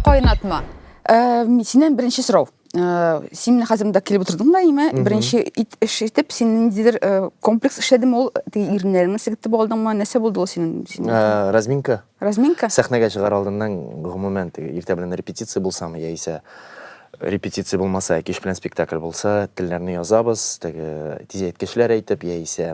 Кайнатма. Э, синен беренче сорау. Э, син менә хәзер монда килеп утырдың да име? Беренче ит эш итеп, син ниндидер э, комплекс эшләдеме ул? Теге иреннәреңне сектеп алдыңмы? Нәрсә булды ул синең? Э, разминка. Разминка? Сәхнәгә чыгар алдыннан гомумән теге иртә белән репетиция булсамы яисә репетиция булмаса, кич белән спектакль булса, телләрне язабыз, теге тизәйткечләр әйтеп яисә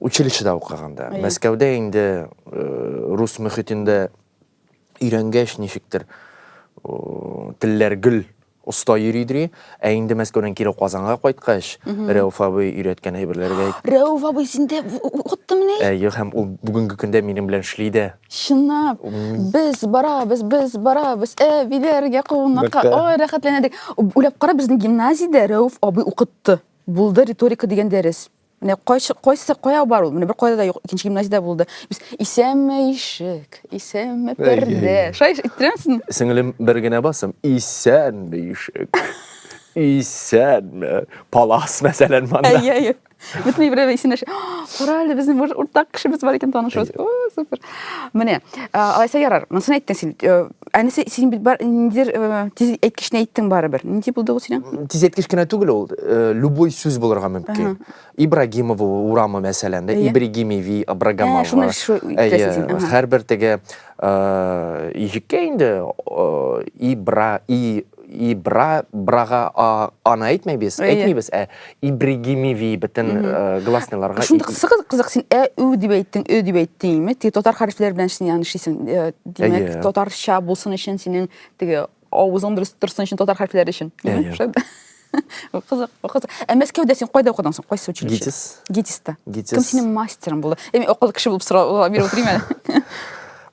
Училищеда укыганда. Мәскәүдә инде рус мөхитендә өйрәнгәч ничектер телләр гөл оста йөридри, ә инде Мәскәүдән кире Казанга кайткач, Рәүф абый өйрәткән әйберләргә Рәүф абый синдә уттымыни? Әйе, һәм ул бүгенге көндә минем белән эшли дә. Чынлап, без барабыз, без барабыз, әбиләргә кунакка, ой, рәхәтләнәдек. Уйлап кара, безнең гимназиядә Рәүф абый укытты. Булды риторика дигән дәрес. Менә кайсы кайсы кая бар ул? Менә бер кайда да юк, икенче гимназиядә булды. Без исәнме ишек, исәнме пәрдә. Шулай иттерәмсең? Сеңлем, бер генә басым. Исәнме ишек. Исәнме. Палас мәсәлән монда. Әйе, әйе. Бөтен берәү исендә. Кара әле безнең бер уртак кешебез бар икән танышыбыз. О, супер. Менә, алайса ярар. Монысын әйттең син. Э, Әнесе, син бит бар, ниндидер э, тиз әйткечне әйттең барыбер. Нинди булды ул синең? Тизәткеш кенә түгел ул, э, любой сүз булырга мөмкин. Ибрагимова урамы мәсәлән, да, Әйе. Ибригимеви, Ә, Абрагамова. шуны шу- Әйе, итәсез син, аха. һәрбер теге э, ижеккә инде э, Ибра, И и бра брага аны әйтмәйбез әйтмибез ә ибригимиви бөтен гласныйларга шундый кызык син ә ү дип әйттең ө дип әйттеңме теге татар хәрефләре белән син аны эшлисең димәк татарча булсын өчен синең теге авызың дөрес торсын өчен татар хәрефләре өчен кызык кызык ә мәскәүдә син кайда укыдың соң кайсы училище гитис гитиста кем синең мастерың булды мен акыллы кеше булып сорап биреп отырмын әле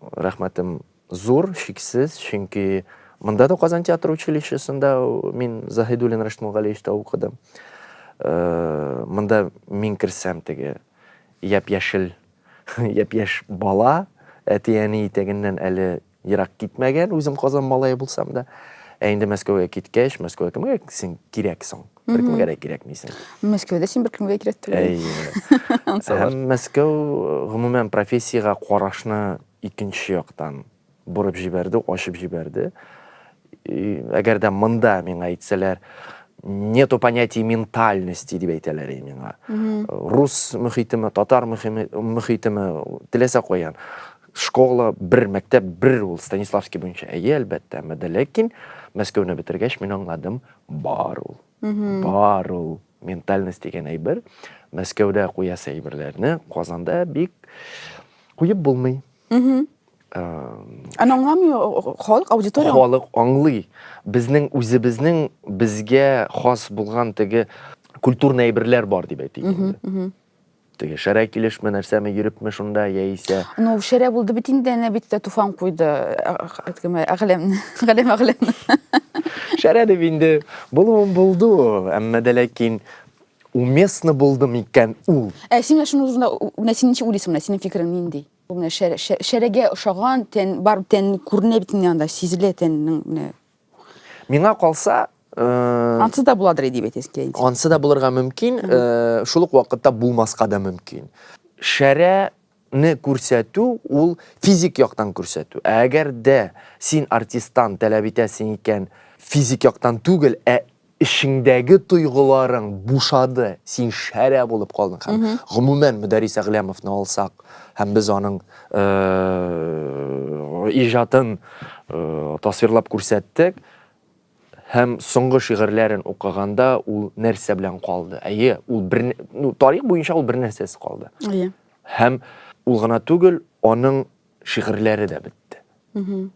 Рәхмәтем зур, чиксез, чөнки монда да Казан театр училищесында мин Заһидуллин Рәшит Мулгалиевичта укыдым. Э, монда мин керсәм теге япь-яшел, япь-яшь бала, әти-әни итәгеннән әле ерак китмәгән, үзем Казан малае булсам да. Ә инде Мәскәүгә киткәч, Мәскәүгә кемгә син кирәк соң? бер кемгә дә кирәкмисең мәскәүдә син бер кемгә кирәк түгел әйе һәм мәскәү гомумән профессиягә карашны икенче яктан борып җибәрде ачып җибәрде әгәр дә монда миңа әйтсәләр нету понятия ментальности дип әйтәләр иде миңа рус мөхитеме татар мөхитеме теләсә каян Школа, бер мәктәп, бер ул Станиславский буенча, әйе, әлбәттә, әмма дә ләкин Мәскәүне бетергәч мин аңладым, бар ул. Бар ул ментальность дигән әйбер. Мәскәүдә куясы әйберләрне Казанда бик куеп булмый. Аны аңламый халык, аудитория. Халык аңлый. Безнең үзебезнең безгә хас булган теге культурный әйберләр бар дип әйтик инде. Теге шәрә килешме, нәрсәме, йөрепме шунда, яисә? Ну, шәрә булды бит инде, әнә бит тә туфан куйды, кеме, әгъләмне, әгъләм әгъләмне. Шәрә дип инде булуын булды ул, әмма дә ләкин уместно булды микән ул? Ә син менә шуның турында, менә син ничек уйлыйсың, менә синең фикерең нинди? Бу менә шәрә, шәрәгә ошаган тән, бар тән күренә бит инде анда, сизелә тәннең менә. Миңа калса, Э, ансы да буладыр дип әйтәсез килә инде ансы да булырга мөмкин э, шул ук вакытта булмаска да мөмкин шәрәне күрсәтү ул физик яктан күрсәтү ә әгәр дә син артисттан таләп итәсең икән физик яктан түгел ә Эчеңдәге тойгыларың бушады, син шәрә булып калдың һәм, гомумән, Мөдәррис Әгъләмовны алсак һәм без аның иҗатын тасвирлап күрсәттек, һәм соңгы шигырьләрен укыганда ул нәрсә белән калды? Әйе, ул бер, ну, тарих буенча ул бер нәрсәсез калды. Әйе. Һәм ул гына түгел, аның шигырьләре дә бетте.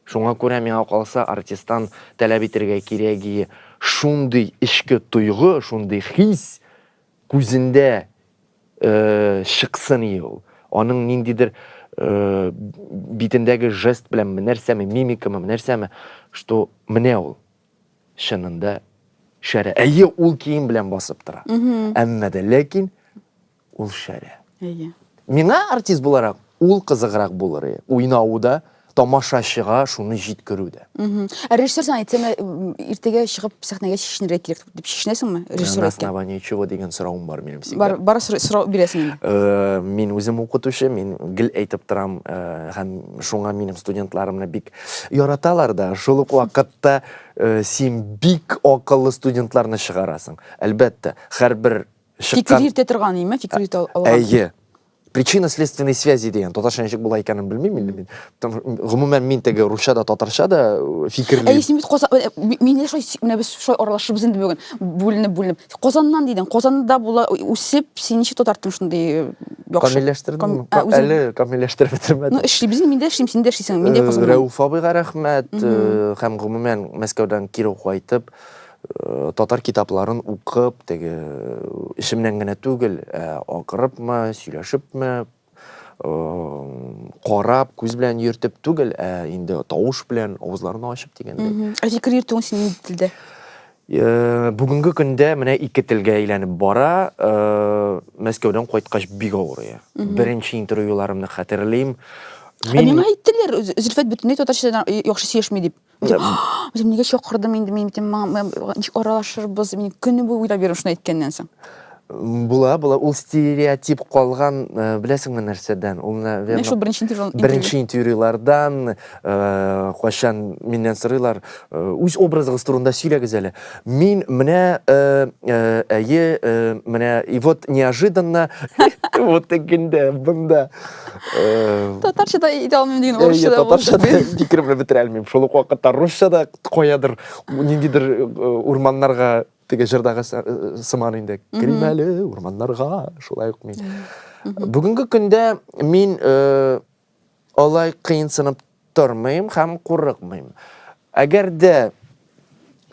Шуңа күрә миңа калса артисттан таләп итергә кирәге шундый эчке тойгы, шундый хис күзендә э, чыксын и ул. Аның ниндидер э, битендәге жест белән нәрсәме, мимикамы, нәрсәме, что менә ул чынында шәрә. Әйе, ул кием белән басып тора. Әмма дә ләкин ул шәрә. Әйе. Миңа артист буларак ул кызыграк булыр, уйнау да, тамашачыга шуны җиткерү дә. Ә режиссер сиңа әйтсәме, иртәгә чыгып сәхнәгә чишенергә кирәк дип чишенәсеңме? Режиссер На основании чего дигән соравым бар минем сиңа. Бар, бар сорау бирәсең инде. Э, мин үзем укытучы, мин гел әйтеп торам, э, һәм шуңа минем студентларымны бик яраталар да. Шул ук вакытта э, син бик акыллы студентларны чыгарасың. Әлбәттә, һәрбер Фикер йөртә торган име? Фикер йөртә алган. Әйе. Причина следственной связи дигән татарча ничек була икәнен белмим инде мин. Гомумән мин теге русча да татарча да э, фикерлим. Әйе, син бит Казан э, мин шулай менә без шулай аралашыбыз инде бүген. Бүленеп, бүленеп. Казаннан дидең. Казанда була үсеп, син ничек татартың шундый э, яхшы? Камилләштердем. Әле камилләштереп бетермәдем. Ну, эшлибез инде, мин дә эшлим, син дә эшлисең. Мин дә Казаннан. Рәүф абыйга рәхмәт һәм гомумән Мәскәүдән кире кайтып Татар китапларын укып, теге эчемнән генә түгел, ә акырыпмы, сөйләшепме, карап, күз белән йөртеп түгел, ә инде тавыш белән авызларны ачып дигәндәй. Ә фикер йөртүең өчен нинди телдә? Бүгенге көндә менә ике телгә әйләнеп бара. Мәскәүдән кайткач бик авырый. Беренче интервьюларымны хәтерлим. Ә миңа әйттеләр, Зөлфәт бөтенләй татарча яхшы сөйләшми дип. Үзем нигә чакырдым инде мин битем ничек аралашырбыз мин көне буе уйлап йөрим шуны әйткәннән соң. Була, була. Ул стереотип калган, э, беләсеңме нәрсәдән? Ул наверное. Менә шул беренче интервью. Беренче интервьюлардан э, кайчан миннән сорыйлар, э, үз образыгыз турында сөйләгез әле. Мин менә әйе, менә и вот неожиданно вот тегендә, бында татарша да әйтә алмыйм деген орысша да татарша да фикер белән бетерә алмыйм шул ук вакытта русча да каядыр ниндидер урманнарга теге җырдагы сыман инде керим әле урманнарга шулай ук мин бүгенге көндә мин алай кыенсынып тормыйм һәм курыкмыйм әгәр дә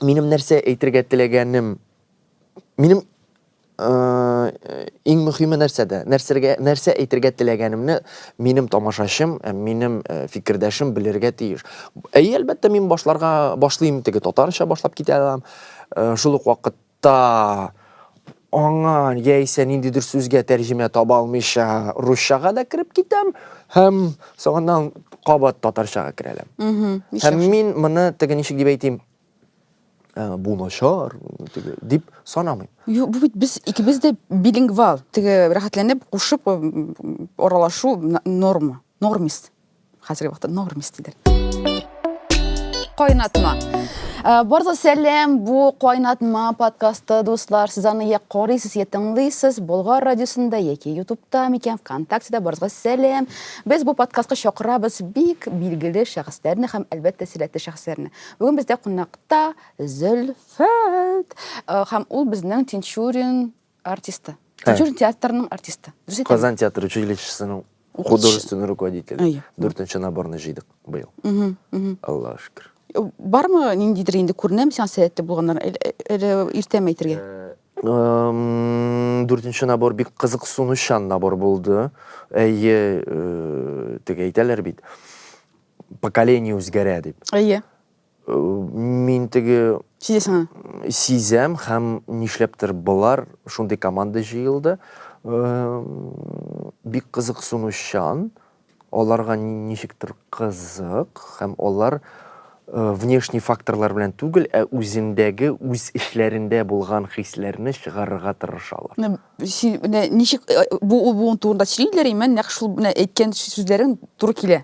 минем нәрсә әйтергә теләгәнем минем иң мөхиме нәрсәдә? Нәрсәргә, нәрсә әйтергә теләгәнемне минем тамашачым, э, минем э, фикердәшем белергә тиеш. Әйе, әлбәттә, мин башларга башлыйм теге татарча башлап китә алам. Э, шул ук вакытта аңа яисә ниндидер сүзгә тәрҗемә таба алмыйча русчага да кереп китәм һәм соңыннан кабат татарчага керәләм. Һәм мин моны теге ничек дип әйтим, ә, бу начар теге дип санамыйм юк бу бит без икебез дә билингвал теге рәхәтләнеп кушып аралашу норма нормист хәзерге вакытта нормист диләр кайнатма ә, барлы сәлем бу кайнатма подкасты дуслар сез аны я карыйсыз я тыңлыйсыз болгар радиосында яки ютубта микән вконтактеда барыгызга сәлем без бу подкастка чакырабыз бик билгеле шәхесләрне һәм әлбәттә сәләтле шәхесләрне Бүген бездә кунакта Зөлфәт э, һәм ул безнең Тинчурин артисты. Тинчурин театрының артисты. Дөрес әйтәме? Казан театр училищесының Укытучы. художественный руководитель. Әйе. Дүртенче наборны җыйдык быел. Мгм, мгм. Аллаһ шөкер. Э, Бармы ниндидер инде күренәм сиңа сәләтле булганнар. Әле- Әле иртәме әйтергә? Эм, Дүртенче набор бик кызыксынучан набор булды. Әйе, э, теге әйтәләр бит. поколение үзгәрә дип. Әйе. Э, мин теге сизәсең аны? Сизәм һәм нишләптер болар шундый команда җыелды. Э, бик кызыксынучан, аларга ничектер кызык һәм алар э, внешний факторлар белән түгел, ә үзендәге үз эшләрендә булган хисләрне чыгарырга тырышалар. Ничек бу ул турында сөйлиләр, имән нәкъ шул әйткән сүзләрең туры килә.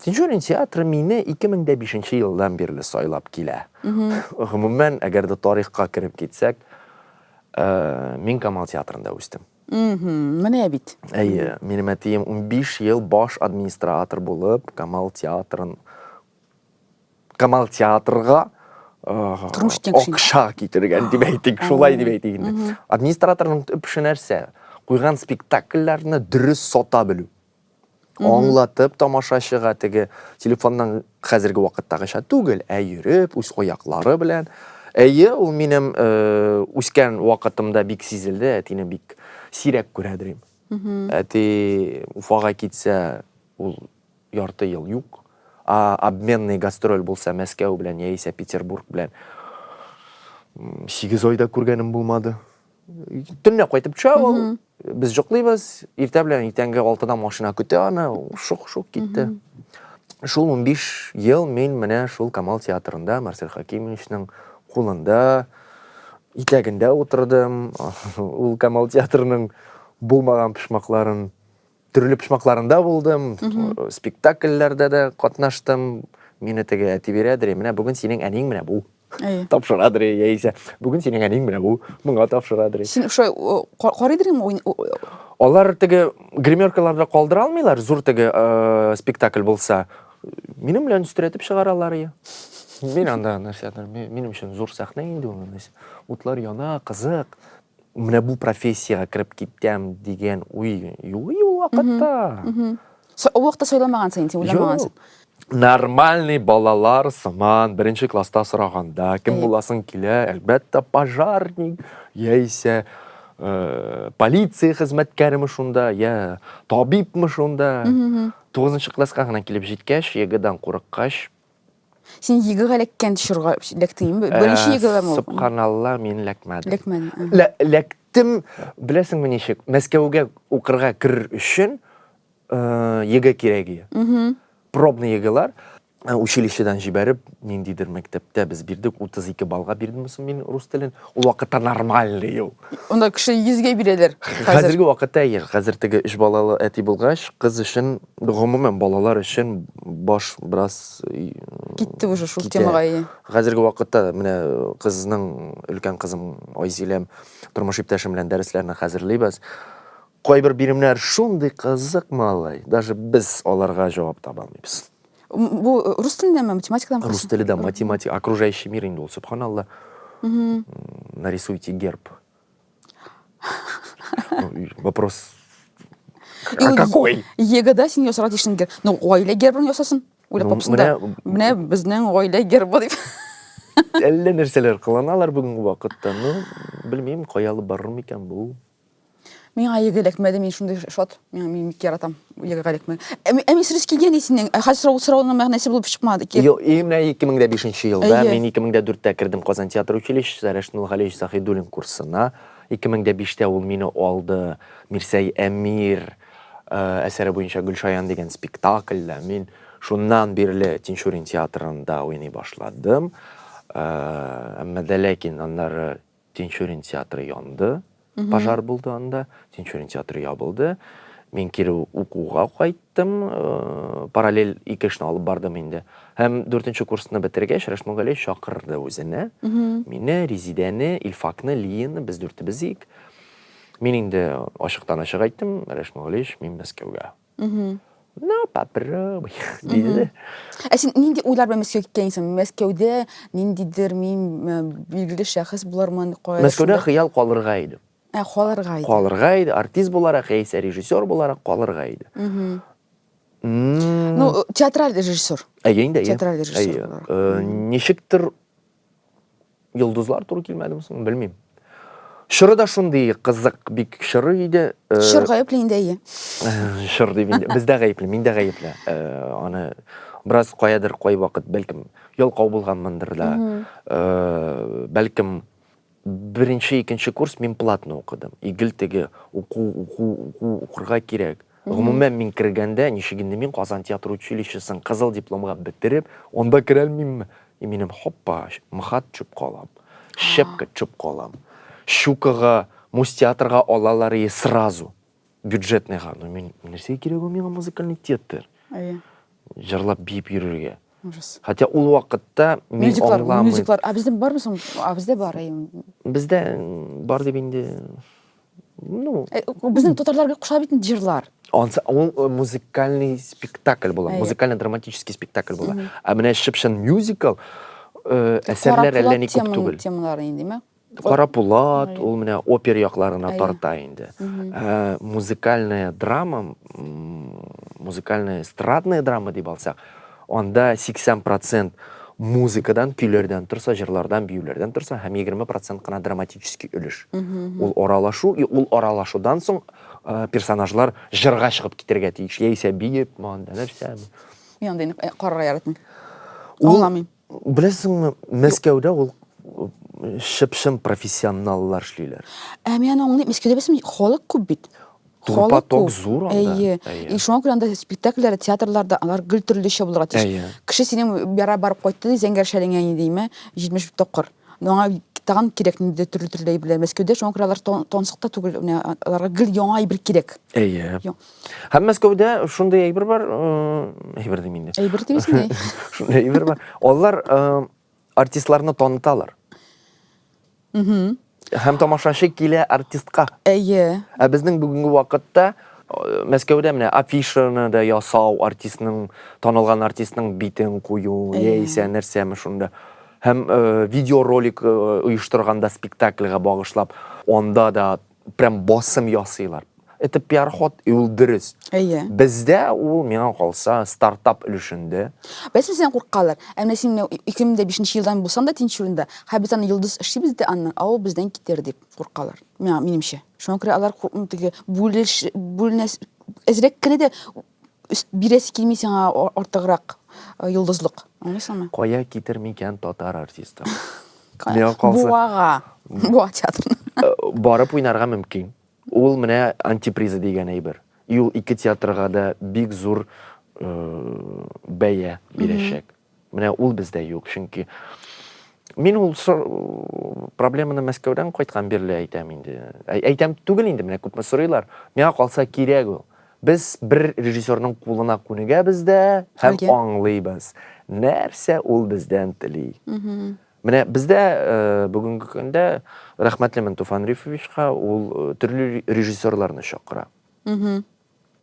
Тинчурин театры мине 2005 нче елдан бирле сайлап килә. Гомумән, әгәр дә тарихка кереп китсәк, э, мин Камал театрында үстем. Менә бит. Әйе, минем әтием 15 ел баш администратор булып, Камал театрын Камал театрга акша китергән дип әйтик, шулай дип әйтик инде. Администраторның төп эше нәрсә? Куйган спектакльләрне дөрес сата белү. Аңлатып тамашачыга теге телефонның хәзерге вакыттагыча түгел, ә йөреп, үз аяклары белән. Әйе, ул минем э, үскән вакытымда бик сизелде, әтине бик сирәк күрә дөрим. Әти Уфага китсә, ул ярты ел юк. А обменный гастроль булса Мәскәү белән яисә Петербург белән. М, Сигез айда күргәнем булмады. Төнлә кайтып төшә ул. Без җоклыйбыз. Иртә белән иртәнге 6да машина көтә аны. Шук-шук китте. Шул 15 ел мин менә шул Камал театрында Марсель Хакимовичның кулында, итәгендә утырдым. Ул Камал театрының булмаган пошмакларын Төрле почмакларында булдым, спектакльләрдә дә катнаштым. Мине теге әти бирәдер, менә бүген синең әниң менә бу. Тапшырадыр, яисә бүген синең әниң менә бу, моңа тапшырадыр. Син шулай карыйдыр инде. Алар теге гримеркаларда калдыра алмыйлар, зур теге спектакль булса. Минем белән өстерәтеп чыгаралар. Мин анда нәрсәдер, минем өчен зур сәхнә инде ул. Утлар яна, кызык. Менә бу профессиягә кереп китәм дигән уй юк ул вакытта. Ул вакытта сайламагансың инде, уйламагансың. Нормальный балалар сыман беренче класста сораганда, кем буласың килә, әлбәттә, пожарник, яисә э, полиция хезмәткәреме шунда, я табибмы шунда. Тугызынчы класска гына килеп җиткәч, егыдан курыккач, Син йөгег эләккән чорга эләктең инде. Э, Беренче йөгегем ул. Субханалла, мин эләкмәдем. Эләкмәдем. ага. Лә- Эләктем, беләсеңме ничек? Мәскәүгә укырга керер өчен э, ЕГЭ кирәк иде. Мгм. Пробный ЕГЭлар э, училищедан җибәреп, ниндидер мәктәптә без бирдек, 32 баллга бирдем соң мин рус телен. Ул вакытта нормальный ел. Онда кеше 100-гә бирәләр хәзер. Хәзерге вакытта әйе, хәзер теге өч балалы әти булгач, кыз өчен, гомумән, балалар өчен баш бераз Китте уже шул китә. темага, әйе. Хәзерге вакытта менә кызның, өлкән кызым Айзиләм, тормыш иптәшем белән дәресләрне хәзерлибез. Кайбер биремнәр шундый кызык, малай, даже без аларга җавап таба алмыйбыз. Бу э, рус телендә ме, математикадан Рус телендә математика, окружающий мир инде ул, субханалла. Нарисуйте герб. Вопрос А какой? Егода син ясар дишен гер. Ну, гаилә гербын ясасын. Уйлап тапсын да. Менә безнең гаилә гербы дип. Әллә нәрсәләр кыланалар бүгенге вакытта. Ну, белмим, кая алып барыр микән бу. Миңа еге эләкмәде, мин шундый шат. Миңа мин бик яратам еге эләкмәне. Ә ми- ә мин срез килгән ди синең. Ә хәзер сорау сорауның мәгънәсе булып чыкмады. Ки- Ел- и, Менә 2005 елда Әйе. мин 2004-тә кердем Казан театр училищесына Рәшит Нургалиевич Заһидуллин курсына. 2005-тә ул мине алды Мирсәй Әмир э, әсәре буенча Гөлшаян дигән спектакльдә. Мин шуннан бирле Тинчурин театрында уйный башладым. Э, Әмма дә ләкин аннары Тинчурин театры янды, пожар булды анда, Тинчурин театры ябылды. Мин кире укуга кайттым, э, параллель ике эшне алып бардым инде. Һәм дүртенче курсны бетергәч, Рәшмүн Галиев чакырды үзенә. Мине, Резидәне, Илфакны, Лияны, без дүртебез ик. Мин инде ачыктан ачык әйттем, Рәшмүн Галиевич, мин Мәскәүгә. На, попробуй, дейді де. Ә сен нинди ойлар белән Мәскәүгә киткәнсең? Мәскәүдә ниндидер мин билгеле шәхес булармын, кая? Мәскәүдә хыял калырга иде. Ә, калырга иде. Калырга иде, артист буларак, яисә режиссер буларак калырга иде. Ну, театраль режиссер. Әйе инде, әйе. Театраль режиссер буларак. Ничектер Йолдызлар туры килмәдеме соң, белмим. Чоры да шундый кызык, бик чоры иде. Э, Чор гаепле инде, әйе. Чор дип инде. Бездә гаепле, миндә гаепле. Э, аны бераз каядыр кай вакыт, бәлкем, ялкау булганмындыр да. Э, бәлкем, Беренче, икенче курс мин платно укыдым. И гел теге уку, уку, уку, укырга кирәк. Гомумән, мин кергәндә, ничек инде мин Казан театр училищесын кызыл дипломга бетереп, анда керәлмимме? И минем, һоппа, МХАТ төшеп калам, щепка төшеп калам, Щукага, Мостеатрга алалар ие сразу. бюджетныйга ну мин нәрсәгә кирәк ул миңа музыкальный театр әйе җырлап биеп йөрергә ужас хотя ул вакытта мин мюзиклар аңламыйм мюзиклар а бездә бармы соң а бездә бар бездә бар дип инде ну э, безнең татарларга куша бит җырлар ул э, музыкальный спектакль була музыкально драматический спектакль була ә менә чып чын мюзикл э, әсәрләр әллә ни күп түгел темалары инде Карапулат, ул менә опер якларына тарта инде. Ә музыкальная драма, музыкальная эстрадная драма дип алсак, анда 80% музыкадан, көйләрдән торса, җырлардан, биюләрдән торса, һәм 20% кына драматический өлеш. Ул аралашу, и ул аралашудан соң э, персонажлар җырга чыгып китергә тиеш. Яисә биеп, монда нәрсә. Мин андый э, карарга яратмыйм. Аңламыйм. Беләсеңме, Мәскәүдә ул шып-шым профессионаллар эшлиләр. Ә мин аны аңлыйм, Мәскәүдә белсәм халык күп бит. Халык күп. зур анда. Әйе. И шуңа күрә анда спектакльләр, театрларда алар гел төрлечә булырга тиеш. Кеше синең яра барып кайтты ди, зәңгәр шәлеңә инде димә, 70 тапкыр. Но аңа тагын кирәк инде төрле төрле әйберләр. Мәскәүдә шуңа күрә алар тонсык та түгел, менә аларга гел яңа әйбер кирәк. Әйе. Һәм Мәскәүдә шундый әйбер бар, әйбер дим инде. Әйбер дибез ни? Шундый әйбер бар. Алар артистларны таныталар. Угу. Һәм тамашачы килә артистка. Әйе. Ә безнең бүгенге вакытта Мәскәүдә менә афишаны да ясау, артистның танылган артистның битен кую, яисә нәрсәме шунда. Һәм видеоролик оештырганда спектакльга багышлап, анда да прям басым ясыйлар. Это пиар-ход, и ул дөрес. Әйе. Бездә ул, миңа калса, стартап өлешендә. Беләсең, синнән куркалар. Ә менә син 2005 елдан булсаң да Тинчуринда, хә без аны йолдыз эшлибез дә аннан, а ул бездән китер дип куркалар. Миңа, минемчә. Шуңа күрә алар куркмый, теге бүлеш, бүленәс, әзрәк кенә дә бирәсе килми сиңа артыграк э, йолдызлык. Аңлыйсыңмы? Кая китер микән татар артисты? Миңа калса- Буага. Буа театрына. Э, барып уйнарга мөмкин. Ул менә антиприза дигән әйбер. И ул ике театрга да бик зур э, бәя бирәчәк. Менә ул бездә юк, чөнки мин ул проблеманы Мәскәүдән кайткан бирле әйтәм инде. Әйтәм түгел инде, менә күпме сорыйлар. Миңа калса кирәк ул. Без бер режиссерның кулына күнегәбез дә һәм аңлыйбыз, нәрсә ул бездән тели. Менә бездә э, бүгенге көндә рәхмәтлемен Туфан Рифовичка, ул э, төрле режиссерларны чакыра.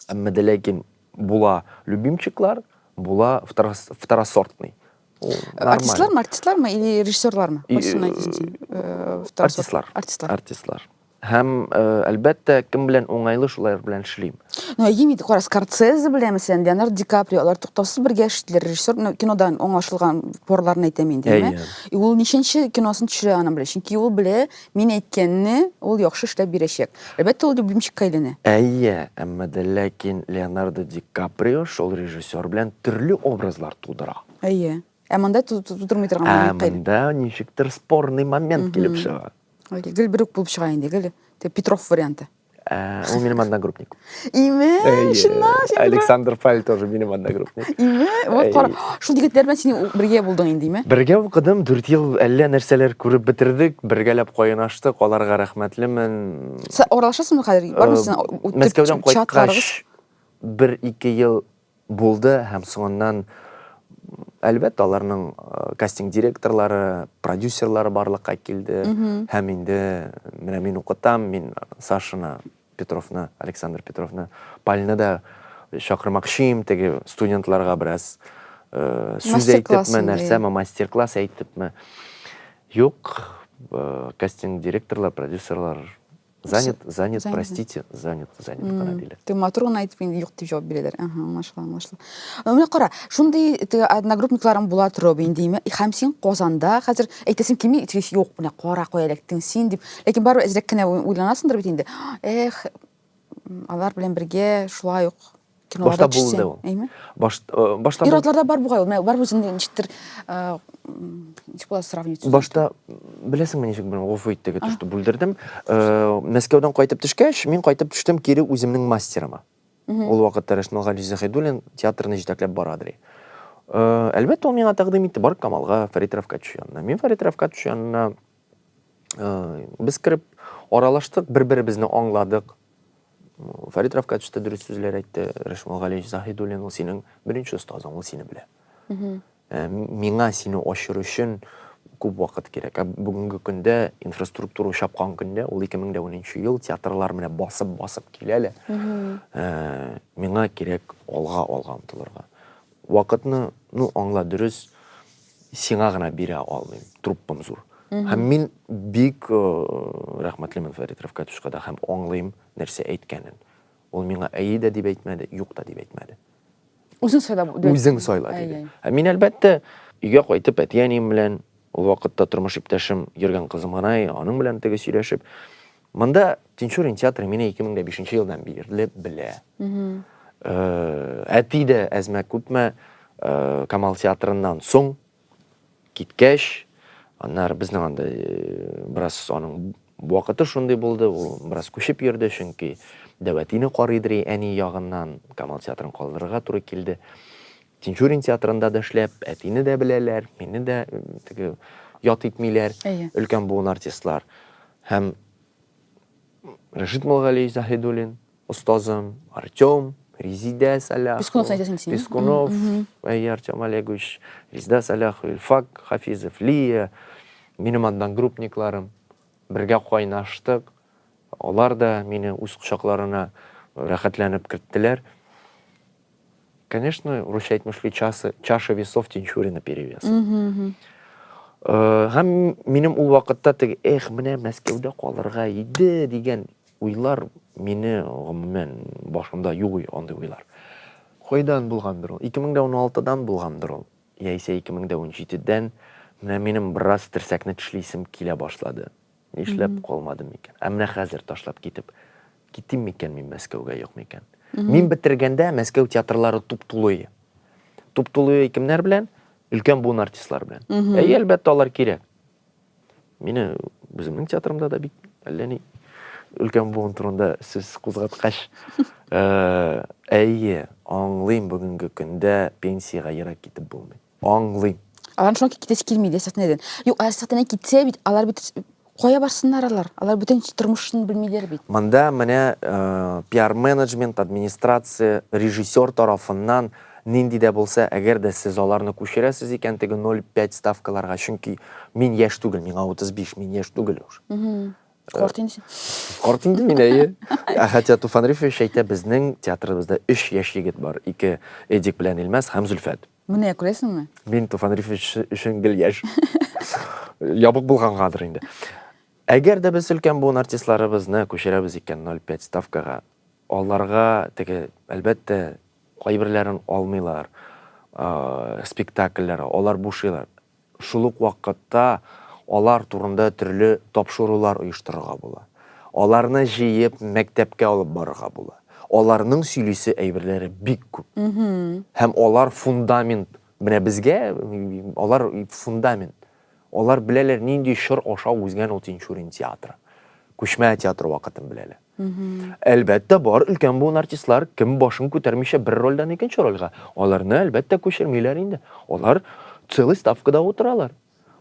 Әмма дә ләкин була любимчиклар, була второсортный. Артистлармы, артистлармы или режиссерлармы? Артистлар. Артистлар. Артистлар. Һәм, әлбәттә, кем белән уңайлы, шулар белән эшлим. Ну, әйе, кара, Скорсезе белән, мәсәлән, Леонардо Ди Каприо, алар туктаусыз бергә эшлиләр, режиссер, ну, кинодан аңлашылган порларын әйтәм инде, әйе. И ул ничәнче киносын төшерә, аны белә, чөнки ул белә, Мин әйткәнне ул яхшы эшләп бирәчәк. Әлбәттә, ул любимчикка әйләнә. Әйе, әмма дә ләкин Леонардо Ди Каприо шул режиссер белән төрле образлар тудыра. Әйе. Ә монда тудырмый торган Ә момент кайда? монда ничектер спорный момент килеп чыга. Гел бер үк булып чыга инде, гел Петров варианты. Э, ул минем одногруппник име э, шынна э, александр паль тоже минем одногруппник име вот кара шул егетләр белән син бергә булдың инде име бергә укыдым дүрт ел әллә нәрсәләр күреп бетердек бергәләп кайнаштык аларга рәхмәтлемен аралашасыңмы хәзер бармы син мәскәүдән кайткач бер ике ел Булды һәм соңыннан, әлбәттә, аларның кастинг директорлары, продюсерлары барлыкка килде һәм инде менә мин укытам, мин Сашаны Петровны, Александр Петровны, Пальны да чакырмакчыйм, теге студентларга бераз сүз әйтепме, нәрсәме, мастер-класс әйтепме. Юк, кастинг директорлар, продюсерлар Занят, занят, занят. простите, занят, занят mm. кара диләр. Ты матур гына әйтеп инде юк дип җавап бирәләр. Ага, аңлашыла, аңлашыла. Менә кара, шундый теге одногруппникларың була торып инде име? Һәм син Казанда хәзер әйтәсең кими, тиз юк, менә кара кая эләктең син дип. Ләкин барыбер әзрәк кенә уйланасыңдыр бит инде. Эх, алар белән бергә шулай ук киноларда Башта булды ул. Әйме? Баш, э, башта Ир атларда бар бугай ул. Менә бар үзен ничектер э, ничек була сравнить? Башта беләсеңме ничек белән гофу иттеге төште бүлдердем. Э, Мәскәүдән кайтып төшкәч, мин кайтып төштем кире үземнең мастерыма. Ул вакытта Рәшмәл Гали Заһидуллин театрны җитәкләп бара ди. Э, әлбәттә, ул миңа тәкъдим итте, бар Камалга, Фәрит Рафкатович янына. Мин Фәрит Рафкатович янына Без кереп аралаштык, бер-беребезне аңладык. Фәрит Рафка төште, дөрес сүзләр әйтте. Рәшмул Галиевич Заһидуллин, ул синең беренче остазың, ул сине белә. Ә, миңа сине ачыр өчен күп вакыт кирәк. Ә бүгенге көндә инфраструктура чапкан көндә, ул 2010 ел, театрлар менә басып-басып килә лә. Ә, миңа кирәк алга, алга омтылырга. Вакытны, ну, аңла, дөрес, Сиңа гына бирә алмыйм, труппам зур. Һәм мин бик э, рәхмәтлемен Фәрит Рәфкатовичка да һәм аңлыйм нәрсә әйткәнен. Ул миңа әйе дә дип әйтмәде, юк та дип әйтмәде. Үзең сайла. Үзең сайла диде. Ә мин әлбәттә өйгә кайтып әти-әнием белән ул вакытта тормыш иптәшем йөргән кызым гына, аның белән теге сөйләшеп Монда Тинчурин театры менә 2005 елдан бирле белә. Әти дә әзмә күпме Камал театрыннан соң киткәч, аннары безнең анда бераз аның вакыты шундый булды, ул бераз күчеп йөрде, чөнки Дәвәтине карыйдыр әни ягыннан Камал театрын калдырырга туры килде. Тинчурин театрында да эшләп, әтине дә беләләр, мине дә теге ят итмиләр. Әйе. Өлкән буын артистлар. Һәм Рәшит Мулгалиевич Заһидуллин, остазым, Артем, Резидә Саляхова. Пескунов әйтәсең син. Пескунов, әйе, Артем Олегович, Резидә Саляхова, Илфак Хафизов, Лия, минем одногруппникларым. Бергә кайнаштык. Алар да мине үз кочакларына рәхәтләнеп керттеләр. Конечно, русча әйтмешли часы, чаша весов тинчурина перевес. Э, һәм минем ул вакытта теге, эх, менә Мәскәүдә калырга иде дигән уйлар мине гомумән башымда юк андый уйлар. Кайдан булгандыр ул? 2016-дан булгандыр ул. Яисә 2017-дән менә минем бераз терсәкне тешлисем килә башлады. Нишләп калмадым микән? Ә менә хәзер ташлап китеп китим микән мин Мәскәүгә юк микән? Мин бетергәндә Мәскәү театрлары туп-тулы. Туп-тулы кемнәр белән? Өлкән буын артистлары белән. Әйе, әлбәттә, алар кирәк. Мине үземнең театрымда да бит әллә ни өлкән буын турында сүз кузгаткач, э, әйе, аңлыйм бүгенге көндә пенсиягә ерак китеп булмый. Аңлыйм. Алар шуңа китәсе килми иде сәхнәдән. Юк, ә сәхнәдән китсә бит, алар бит кая барсыннар алар? Алар бүтән тормышын белмиләр бит. Монда менә пиар-менеджмент, администрация, режиссер тарафыннан нинди дә булса, әгәр дә сез аларны күчерәсез икән теге 0,5 ставкаларга, чөнки мин яшь түгел, миңа 35, мин яшь түгел уж. Карт инде син. Карт инде мин, әйе. Ә Хәтия Туфанрифович әйтә, безнең театрыбызда өч яшь егет бар, ике Эдик белән Илмәс һәм Зөлфәт. Менә күрәсеңме? Мин Туфан Рифович өчен гел яшь. Ябык булгангадыр инде. Әгәр дә без өлкән буын артистларыбызны күчерәбез икән 05 ставкага, аларга теге, әлбәттә, кайберләрен алмыйлар, спектакльләр, алар бушыйлар. Шул ук вакытта алар турында төрле тапшырулар оештырырга була. Аларны җыеп мәктәпкә алып барырга була. Аларның сөйлисе әйберләре бик күп. Һәм алар фундамент, менә безгә алар фундамент. Алар беләләр нинди чор аша узгән ул Тинчурин театры. Күчмә театры вакытын беләләр. Әлбәттә, бар өлкән буын артистлар кем башын күтәрмичә бер рольдән икенче рольгә. Аларны, әлбәттә, күчермиләр инде. Алар целый ставкада утыралар.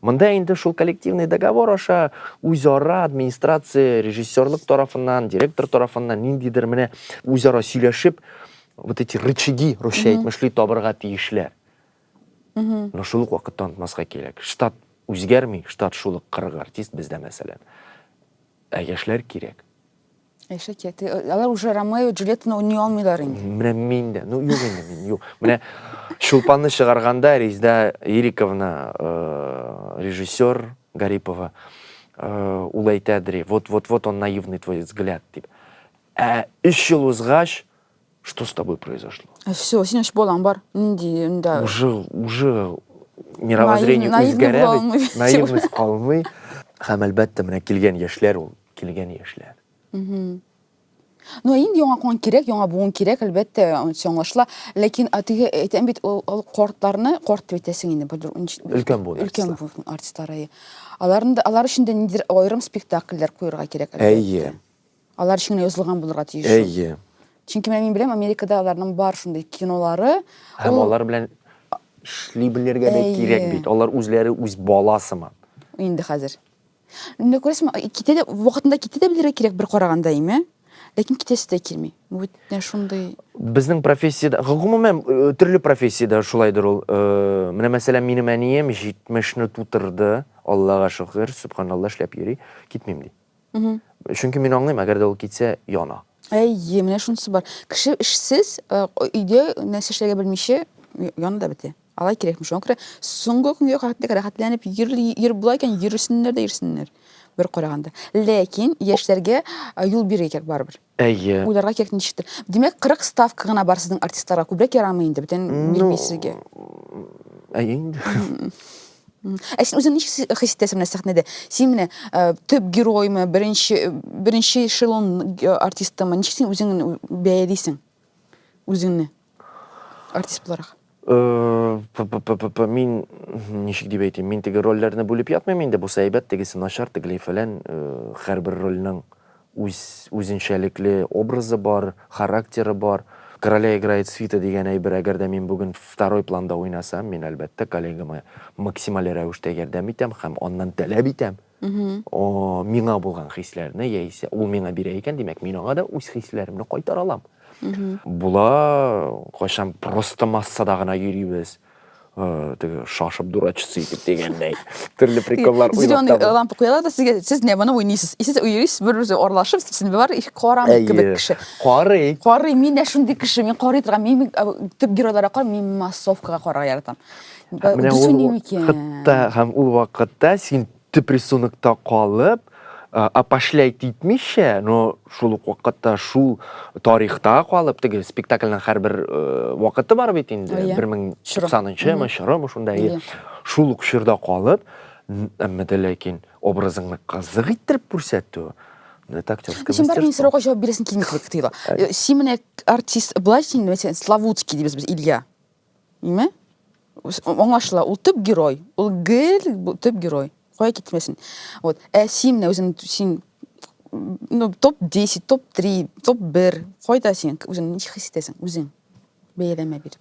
Монда инде шул коллективный договор аша үзара администрация, режиссерлык тарафыннан, директор тарафыннан ниндидер менә үзара сөйләшеп, вот эти рычаги, русча әйтмешли, табырга тиешләр. Но шул ук вакытта онытмаска кирәк, штат үзгәрми, штат шул ук 40 артист бездә мәсәлән. Ә яшьләр кирәк. Яшьләр кирәк. Э, алар уже Ромео, Джульеттаны уйный алмыйлар инде. Менә мин дә. Ну, юк инде мин, юк. Менә Чулпанны чыгарганда Резда Ириковна, э, режиссер Гарипова, э, ул әйтә дри, вот, вот, вот он наивный твой взгляд, дип. Ә 3 ел узгач, Что с тобой произошло? Э, Все, сен үчүп балаң бар. Нинди мында? Уже, уже мировоззрение Наив- наивный үзгәрә була бит. алмый. Наивность калмый. Һәм әлбәттә, менә килгән яшьләр ул, килгән яшьләр. Мгм. Ну, ә инде яңа кан кирәк, яңа буын кирәк, әлбәттә, анысы аңлашыла. Ләкин а теге әйтәм бит, ул, ул картларны, карт дип әйтәсең инде, бер ничек- Өлкән буын өлкән артистлар. буын артистлары. әйе. Аларны да, алар өчен дә ниндидер аерым спектакльләр куярга кирәк. әлбәттә. Әйе. Алар өчен генә язылган булырга тиеш. Әйе. Чөнки мин беләм, Америкада аларның бар шундый кинолары. Һәм ул... алар белән эшли белергә дә кирәк бит. Алар үзләре үз бала сыман. Инде хәзер. Инде күрәсең, китә дә вакытында китә дә белергә кирәк бер караганда име? Ләкин китәсе дә килми. Бу бит нә шундый. Безнең профессиядә, гомумән, төрле профессиядә шулайдыр ул. Менә мәсәлән, минем әнием 70 не тутырды, Аллага шөкер, сөбханалла, эшләп йөри, китмим ди. Чөнки мин аңлыйм, әгәр дә ул китсә, яна. Әйе, менә шунысы бар. Кеше эшсез, э, өйдә нәрсә эшләргә белмичә яны да бетә. Алай кирәкми. Шуңа күрә соңгы көнгә кадәр рәхәтләнеп йөр була икән, йөрсеннәр дә йөрсеннәр бер караганда. Ләкин яшьләргә э, юл бирергә кирәк барыбер. Әйе. Уйларга кирәк ничектер. Димәк, 40 ставка гына бар сезнең артистларга. Күбрәк ярамый инде, бүтән Ну, бирми сезгә. Әйе инде. Ә син үзең ничек си- хис итәсең менә сәхнәдә? Син менә э, төп героймы, беренче беренче эшелон э, артистымы? Ничек син үзең бәялисең? Үзеңне. Артист буларак. Э, мин ничек дип әйтим, мин теге рольләрне бүлеп ятмыйм инде, бусы әйбәт, тегесе начар, тегеләй фәлән, э, һәрбер рольнең үз үзенчәлекле образы бар, характеры бар. Короля играет свита дигән әйбер, әгәр дә мин бүген второй планда уйнасам, мин әлбәттә коллегама максималь рәвештә ярдәм итәм һәм аннан таләп итәм. миңа булган хисләрне яисә ул миңа бирә икән димәк мин аңа да үз хисләремне кайтара алам була кайчан просто массада гына йөрибез э, теге шашып дурачиться итеп дигәндәй төрле приколлар уйлап зеленый э, лампа куялар да сезгә сез не моны уйныйсыз и сез йөрисез бер берегезгә аралашып сез бар их карамый кебек кеше карый карый мин дә шундый кеше мин карый торган мин төп геройларга карамыйм мин массовкага карарга яратам Ә менә ул вакытта һәм ул вакытта син төп рисунокта калып, апашләй титмичә, но шул ук вакытта шул тарихта калып, теге спектакльнең һәрбер вакыты бар бит инде, 1090-нчы мы, чорымы шунда, шул ук чорда калып, әмма дә ләкин образыңны кызык иттереп күрсәтү, это актерское мастерство. Син бармын сорауга җавап бирәсең килми кебек тоела. Син менә артист, былай син, Славутский дибез без, Илья. Ме? Аңашла, ул төп герой. Ул гел төп герой. Кая китмәсен. Вот. Ә син менә үзең син ну, топ 10, топ 3, топ 1. Кайда син үзең ничек хис итәсең үзең? Бәяләмә бир.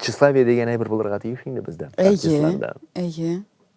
Тщеславие дигән әйбер булырга тиеш инде бездә. Әйе. Әйе.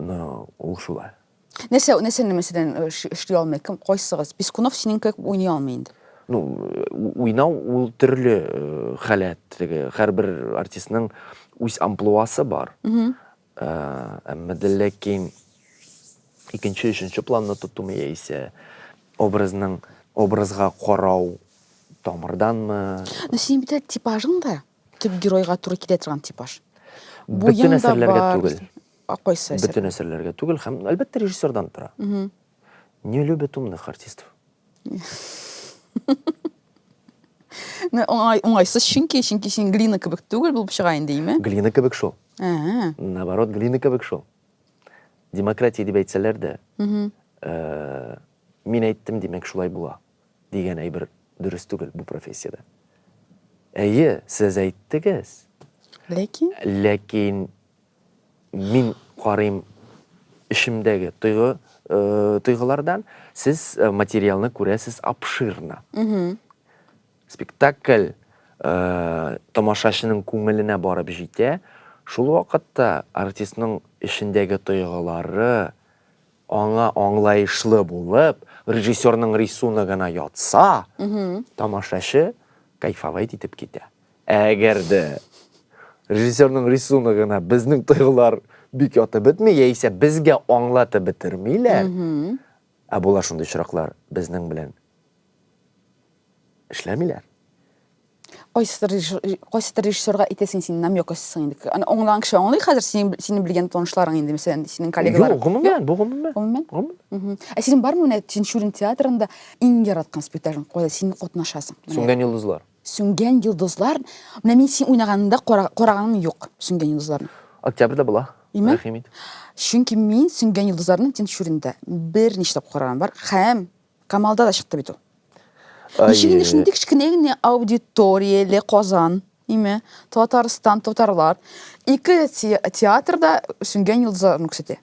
Ну, ул шулай. Нәрсә, нәрсәне мәсәлән э, эш- эшли алмый? Кем кайсыгыз? Пескунов синең кебек уйный алмый инде. Ну, у- уйнау ул төрле э, халәт, теге һәрбер артистның үз амплуасы бар. Мгм. Э, Әмма дә ләкин икенче, өченче планны тотуым яисә образның образга карау тамырданмы? Ну синең бит әле типажың да. Төп геройга туры килә торган типаж. Бөтен әсәрләргә түгел. Кайсы әсәр? Бөтен әсәрләргә түгел һәм әлбәттә режиссердан тора. Не любят умных артистов. Оңай, оңайсыз чөнки, чөнки син глина кебек түгел булып чыга инде, име? Глина кебек шул. Ә. Наоборот, глина кебек шул. Демократия дип әйтсәләр дә, э, мин әйттем, димәк, шулай була. дигән әйбер дөрес түгел бу профессиядә. Әйе, сез әйттегез. Ләкин? Ләкин мин карыйм эшемдәге тойгы, э, тойгылардан, сез э, материалны күрәсез обширно. Спектакль э, тамашачының күңеленә барып җитә, шул вакытта артистның эшендәге тойгылары Аңа аңлаешлы булып, режиссерның рисуногына ятса, тамашачы кайфовать итеп китә. Ә әгәр дә режиссерның рисуногына безнең тойгылар бик ятып бетми, яисә безгә аңлатып бетермиләр, ә була шундый очраклар, безнең белән Эшләмиләр. Кайсыдыр кайсыдыр режиссерга әйтәсең, син намек ачсың инде. Аны аңлаган кеше аңлый хәзер, синең синең белгән танышларың инде, мәсәлән, синең коллегалар. Юк, гомумән, бу гомумән. Гомумән? Гомумән. Ә синең бармы менә Тинчурин театрында иң яраткан спектакль, кайда син катнашасың? Сүнгән йолдызлар. Сүнгән йолдызлар. Менә мин син уйнаганында караганым юк, Сүнгән йолдызларны. Октябрьдә була. Име? Рәхим ит. Чөнки мин Сүнгән йолдызларны Тинчуринда берничә тапкыр караган бар һәм Камалда да чыкты бит ул. Ничек инде шундый кечкенә генә аудиторияле Казан, име, Татарстан, татарлар, ике театрда сүнгән йолдызларны күрсәтә.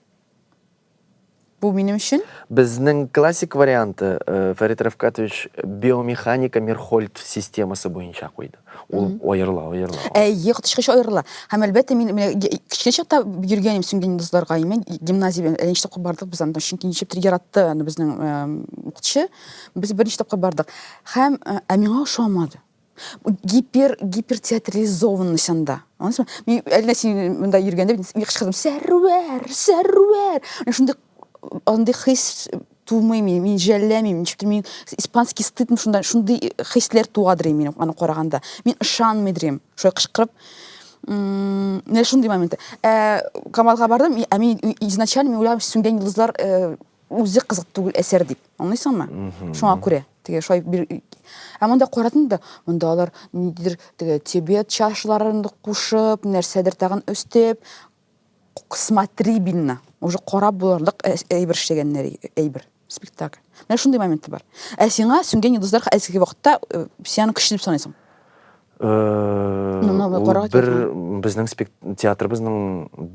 Бу минем өчен. Безнең классик варианты э, Фәрит Рәфкатович биомеханика Мерхольд системасы буенча куйды. Ул аерыла, аерыла. Әйе, коточкыч аерыла. Һәм әлбәттә мин менә кечкенә чакта йөргәнем сүнгән йолдызларга. Мен гимназия белән әле тапкыр бардык без анда, чөнки ничектер яратты аны безнең укытучы. Без берничә тапкыр бардык. Һәм ә миңа ошамады. Гипер гипертеатрализованность анда. Анысы мин әллә син монда йөргәндә мин кычкырдым, "Сәрвәр, сәрвәр!" Шундый андый хис тумый мин, мин жәлләмим, ничектер мин испанский стыдмы шунда, шундый хисләр туадыр мин аны караганда. Мин ышанмый дирем, шулай кычкырып. Менә шундый моменты. Ә Камалга бардым, ә мин изначально мин уйлам сүнгән йолдызлар э, үзе кызык түгел әсәр дип. Аңлыйсыңмы? Шуңа күрә. Теге шулай бир Ә монда карадым да, монда алар ниндидер теге тибет чашларын кушып, нәрсәдер тагын өстеп, смотрибельно уже карап булырлык әйбер эшләгәннәр әйбер спектакль менә шундый моменты бар ә сиңа сүнгән йолдызлар әлеге вакытта э, син аны көчле дип саныйсың э, бер безнең театрыбызның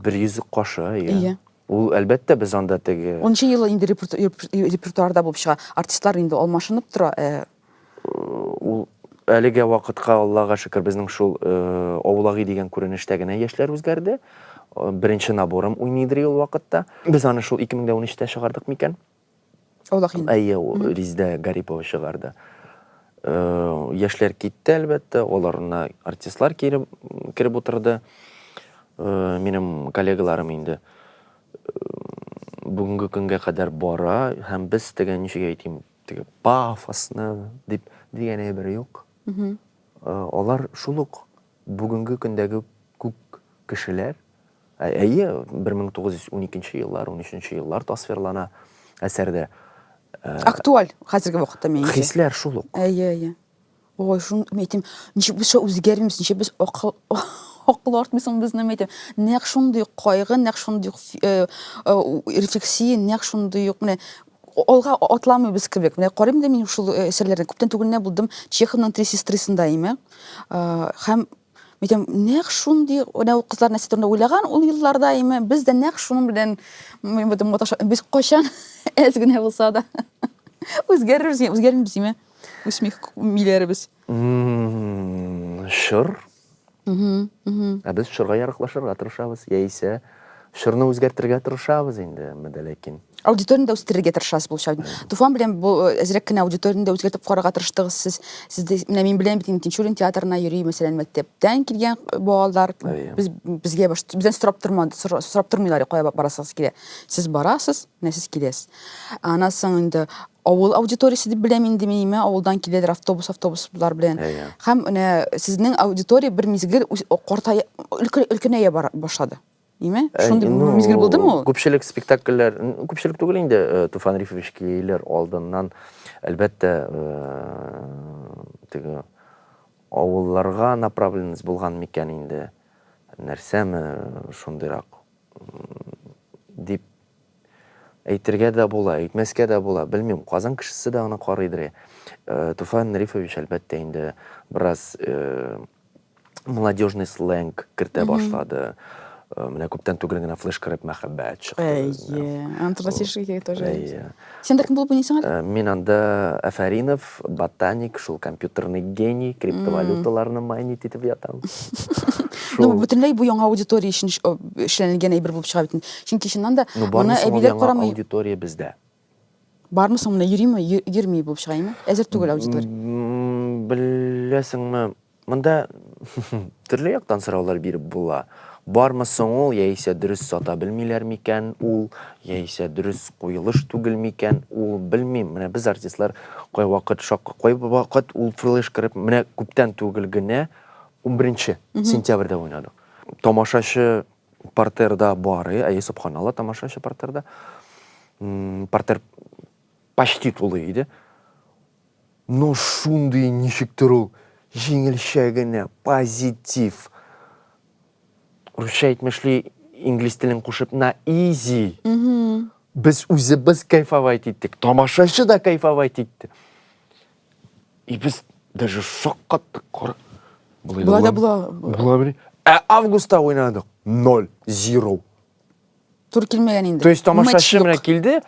бер йөзлек кашы иә ул әлбәттә без анда теге унынчы елы инде репертуарда булып чыга артистлар инде алмашынып тора э, Ул әлегә вакытка Аллага шөкер безнең шул Овлаги дигән күренештә генә яшьләр үзгәрде. Беренче наборым уйныйдыр ул вакытта. Без аны шул 2013-тә чыгардык микән? Овлаги. Әйе, Риздә Гарипова чыгарды. Яшьләр китте, әлбәттә, аларына артистлар кире кереп утырды. Минем коллегаларым инде бүгенге көнгә кадәр бара һәм без дигән ничек әйтим, Теге пафосно дип дигән әйбер юк. Э, алар шул ук бүгенге көндәге күк кешеләр. Ә- Әйе, 1912 еллар, 13 еллар тасвирлана әсәрдә. Актуаль хәзерге вакытта минемчә. Хисләр шул ук. Әйе, әйе. Ой, шун әйтим, ничек без шо үзгәрмибез, ничек без акыл акыл артмый соң безнең әйтим. Нәкъ шундый ук кайгы, нәкъ шундый ук фи- э, э, у- рефлексия, нәкъ шундый ук менә о- алга а- атламыйбыз кебек. Менә карыйм да мин шул э, әсәрләрне. Күптән түгел генә булдым Чеховның Три сестрысында име. Э, Һәм әйтәм, нәкъ шундый менә ул кызлар нәрсә турында уйлаган ул елларда име. Без дә нәкъ шуның белән м, маташа- без кайчан әз генә булса да үзгәрербез, үзгәрмибез име. Үсмих миләребез. Шыр. Ә без шырга ярыклашырга тырышабыз, яисә шырны үзгәртергә тырышабыз инде, мәдә ләкин. Аудиторияне дә үстерергә тырышасыз булча. Туфан белән бу э, әзрәк кенә аудиторияне дә үзгәртеп карарга тырыштыгыз сез. Сез дә менә мин беләм бит инде Тинчурин театрына йөри, мәсәлән, мәктәптән килгән э, балалар без безгә баш- бездән сорап тормады, сора- сорап тормыйлар, кая барасыгыз килә. Сез барасыз, Менә сез киләсез. Аннан соң инде авыл аудиториясе дип беләм инде мин имә авылдан киләләр автобус автобуслар белән yeah. һәм менә сезнең аудитория бер мизгел картая өлкәнәя башлады име шундый ну, мизгел булдымы ул күпчелек спектакльләр күпчелек түгел инде э, туфан рифович килер алдыннан әлбәттә э, теге авылларга направленность булган микән инде нәрсәме шундыйрак дип әйтергә дә була, әйтмәскә дә була, белмим. Казан кешесе дә аны карыйдыр. Э, Туфан Рифович, әлбәттә, инде бераз э, молодежный сленг кертә башлады. Э, менә күптән түгел генә флеш кереп мәхәббәт чыкты. Әйе. Антон Васильевич тоже. Әйе. Сен дә кем булып уйныйсың әле? Э, мин анда Афаринов, ботаник, шул компьютерный гений, криптовалюталарны майнить итеп ятам. Ну, бөтенләй бу яңа аудитория өчен эшләнелгән әйбер булып чыга бит. Чөнки чыннан да ну, моны әбиләр карамый. Аудитория бездә. Бармы соң менә йөриме, йөрми булып чыга инде? Әзер түгел аудитория. Беләсеңме, Монда төрле яктан сораулар биреп була. Бармы соң ул, яисә дөрес сата белмиләр микән ул, яисә дөрес куелыш түгел микән ул, белмим. Менә без артистлар кайвакыт шак, кайвакыт ул флеш кереп, менә күптән түгел генә 11 сентябрьдә уйнадык. Тамашачы партерда бар, әйе, субханалла, тамашачы партерда. Партер почти тулы иде. Но шундый ничектер ул җиңелчә генә, позитив. Русча әйтмешли, инглиз телен кушып, на изи. Без үзебез кайфовать иттек, тамашачы да кайфовать итте. И без даже шаккаттык, кара. Болай да була. Була бери. Ә августта уйнадык. Ноль, зиро. Тур килмәгән инде. То есть тамашачы менә килде,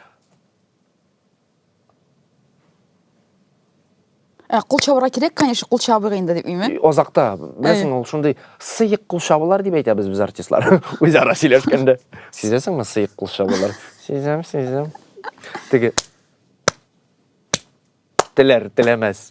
Ә кул чабырга кирәк, конечно, кул чабыйк инде дип миме? Азакта, беләсең, ул шундый сыек кул чабулар дип әйтәбез без артистлар. Үзара сөйләшкәндә. Сизәсеңме сыек кул чабулар? Сизәм, сизәм. Теге теләр, теләмәс.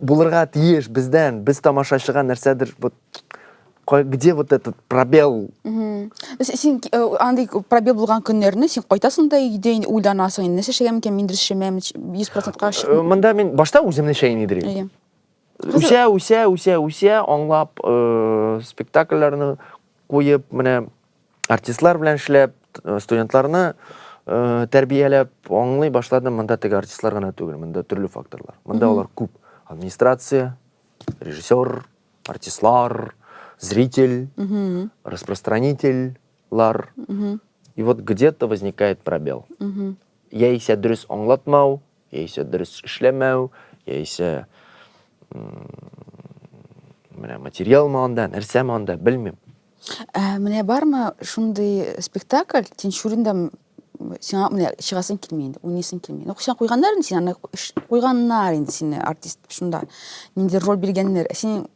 Булырга тиеш бездән, без тамашачыга нәрсәдер вот где вот этот пробел? Син э, андый пробел булган көннәрне син кайтасың да өйдә инде уйланасың, инде нәрсә эшләгән микән, мин дөрес эшләмәм, 100%-ка э, чык. Монда мин башта үземне чәен идерим. Үсә, үсә, үсә, үсә, аңлап, э, спектакльләрне куеп, менә артистлар белән эшләп, студентларны э, тәрбияләп, аңлый башладым, монда теге артистлар гына түгел, монда төрле факторлар. Монда алар күп. Администрация, режиссер, артистлар, зритель, распространительлар. И вот где-то возникает пробел. Яисә дөрес аңлатмау, яисә дөрес эшләмәү, яисә менә материал маңында, нәрсә маңында, белмим. Ә менә бармы шундый спектакль, Тинчуринда сиңа менә чыгасың килми инде, уйныйсың килми. Ну, сиңа куйганнар инде, сиңа куйганнар инде сине артист шунда. Нинди роль биргәннәр, ә син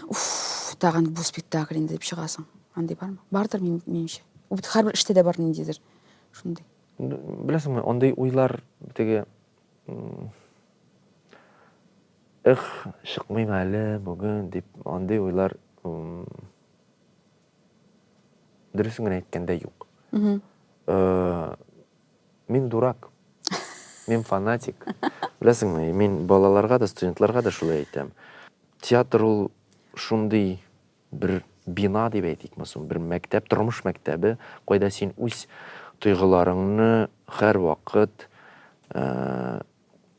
уф, тагын бу спектакль инде дип чыгасың. Андый бармы? Бардыр минемчә. Бит һәрбер эштә дә бар ниндидер шундый. Беләсеңме, андый уйлар теге Эх, чыкмыйм әле бүген дип андый уйлар дөресен генә әйткәндә юк. Э, мин дурак. Мин фанатик. Беләсеңме, мин балаларга да, студентларга да шулай әйтәм. Театр ул шундый Бер бина дип әйтикме соң, бер мәктәп, тормыш мәктәбе, кайда син үз тойгыларыңны һәрвакыт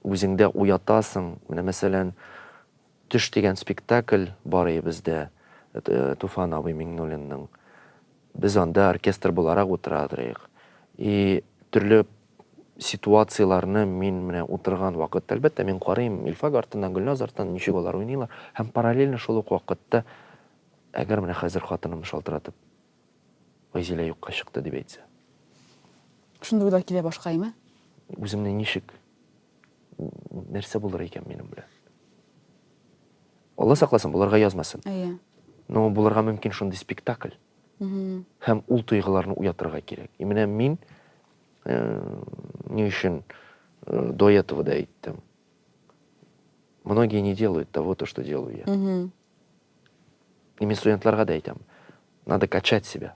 үзеңдә уятасың. Менә, мәсәлән, Төш дигән спектакль бар иде бездә, Туфан абый Миңнуллинның. Без анда оркестр буларак утырадырыйк. И төрле ситуацияләрне мин менә утырган вакытта, әлбәттә, мин карыйм Илфак артыннан, Гөлназ артыннан, ничек алар уйныйлар. Һәм параллельно шул ук вакытта, әгәр менә хәзер хатынымны шалтыратып, Гайзилә юкка чыкты, дип әйтсә. Шундый уйлар килә башка, әйме? Үземне ничек, нәрсә булыр икән минем белән? Алла сакласын, булырга язмасын. Әйе. Но булырга мөмкин шундый спектакль. Һәм ул тойгыларны уятырга кирәк. И менә мин э, ни өчен э, до этого да әйттем. Многие не делают того, то, что делаю я. И мин студентларга да әйтәм. Надо качать себя.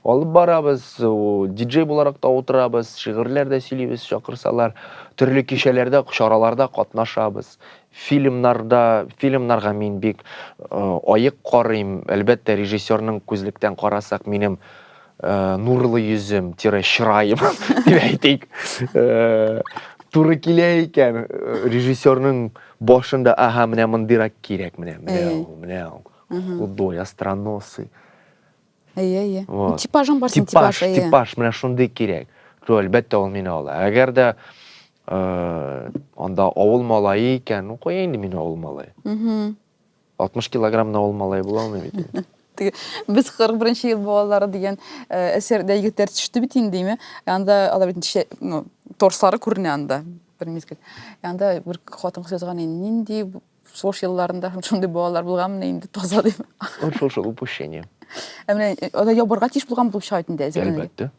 Алып барабыз, диджей буларак та утырабыз, шигырьләр дә сөйлибез, чакырсалар. Төрле кичәләрдә, чараларда катнашабыз. Фильмнарда, фильмнарга мин бик аек карыйм. Әлбәттә, режиссерның күзлектән карасак, минем нурлы йөзем, тире чыраем, дип әйтик, туры килә икән. Режиссерның башында, аһа, менә мондыйрак кирәк, менә, менә ул, менә ул. Худой, остроносый. әйе әйе вот. типажың бар синең типаж типаж, типаж менә шундый кирәк то әлбәттә ул мине ала әгәр дә э, анда авыл малае икән ну куя инде мин авыл малае алтмыш килограммда авыл малае була алмыйм бит инде без кырык беренче ел балалары дигән э, әсәрдә егетләр төште бит инде име анда алар бит ну торслары күренә анда бер мизгел анда бер хатын кыз язган нинди Шул елларында һәм шундый балалар булганмыни инде таза дип. Ул шул шул упущение. Ә менә э, анда ябарга тиеш булган булып чыга бит инде әзер. Әлбәттә.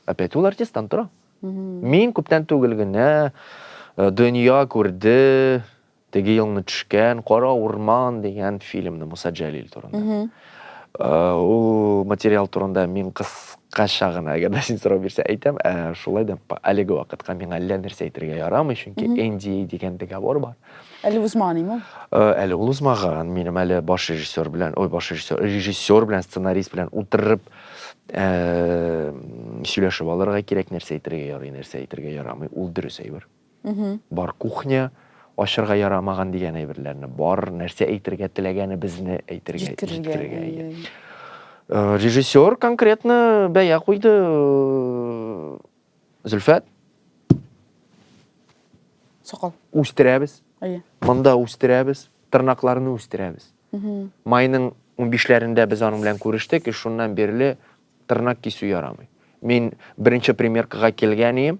Опять ул артисттан тора. Мин күптән түгел генә э, дөнья күрде, теге елны төшкән Кара урман дигән фильмны Муса Җәлил турында. Э, ул материал турында мин кыскача гына, әгәр дә син сорау бирсә әйтәм, ә шулай да әлеге вакытка миңа әллә нәрсә әйтергә ярамый, чөнки NDA дигән договор бар. Әле узмаган име ул? Э, әле ул узмаган. Минем әле баш режиссер белән, ой, баш режиссер, режиссер белән, сценарист белән утырып э, сөйләшеп алырга кирәк, нәрсә әйтергә ярый, нәрсә әйтергә ярамый. Ул дөрес әйбер. Бар кухня ашырга ярамаган дигән әйберләрне, бар нәрсә әйтергә теләгәне безне әйтергә, җиткерергә. Иә. Э, режиссер конкретно бәя куйды. Зөлфәт. Сакал. Үстерәбез. Әйе. Монда үстерәбез, тырнакларны үстерәбез. Майның 15-ләрендә без аның белән күрештек, и шуннан бирле тырнак кисү ярамый. Мин беренче примеркага килгән идем.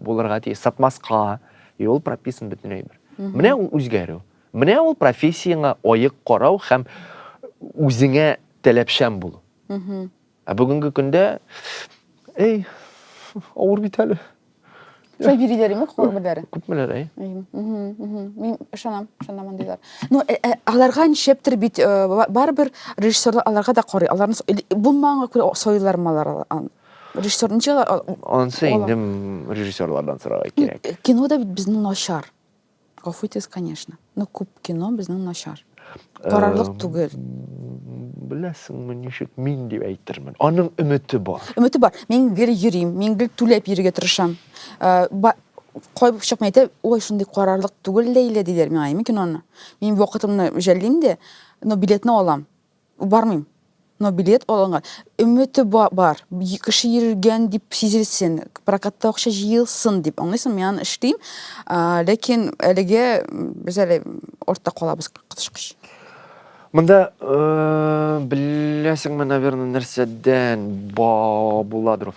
Булырга тиеш, сатмаска. И ул прописан бөтен әйбер. Менә ул үзгәрү. Менә ул профессияңа аек карау һәм үзеңә таләпчән булу. Ә бүгенге көндә эй, авыр бит әле. Шулай бириләр име куллар берләре? Күпмеләр, әй. Мин ышанам, ышанам андыйлар. Ну, э, э, аларга ничептер бит э, барыбер режиссерлар аларга да карый. Аларны булмаганга күрә сойлармы алар Режиссер ничек ала- ал- Анысы Ала. инде м, режиссерлардан сорарга И- кирәк. э, кино да бит безнең начар гафу итегез конечно но күп кино безнең начар карарлык Эм, түгел Беләсеңме, ничек мин дип әйтермен. Аның өмете бар. өмете бар мин гел йөрим мин гел түләп йөрергә тырышам Э, ба- кай чакны әйтә ой шундый карарлык түгел ләйлә диләр миңа мин киноны мин вакытымны жәллим дә но билетны алам Бармыйм. Но билет алынган. Өмете бар. Кеше йөргән дип сизелсен. Прокатта акча җыелсын дип. Аңлыйсың, мин аны эшлим. Ләкин әлегә без әле ортта калабыз кытышкыч. Монда э, беләсеңме, наверное, нәрсәдән ба буладыр.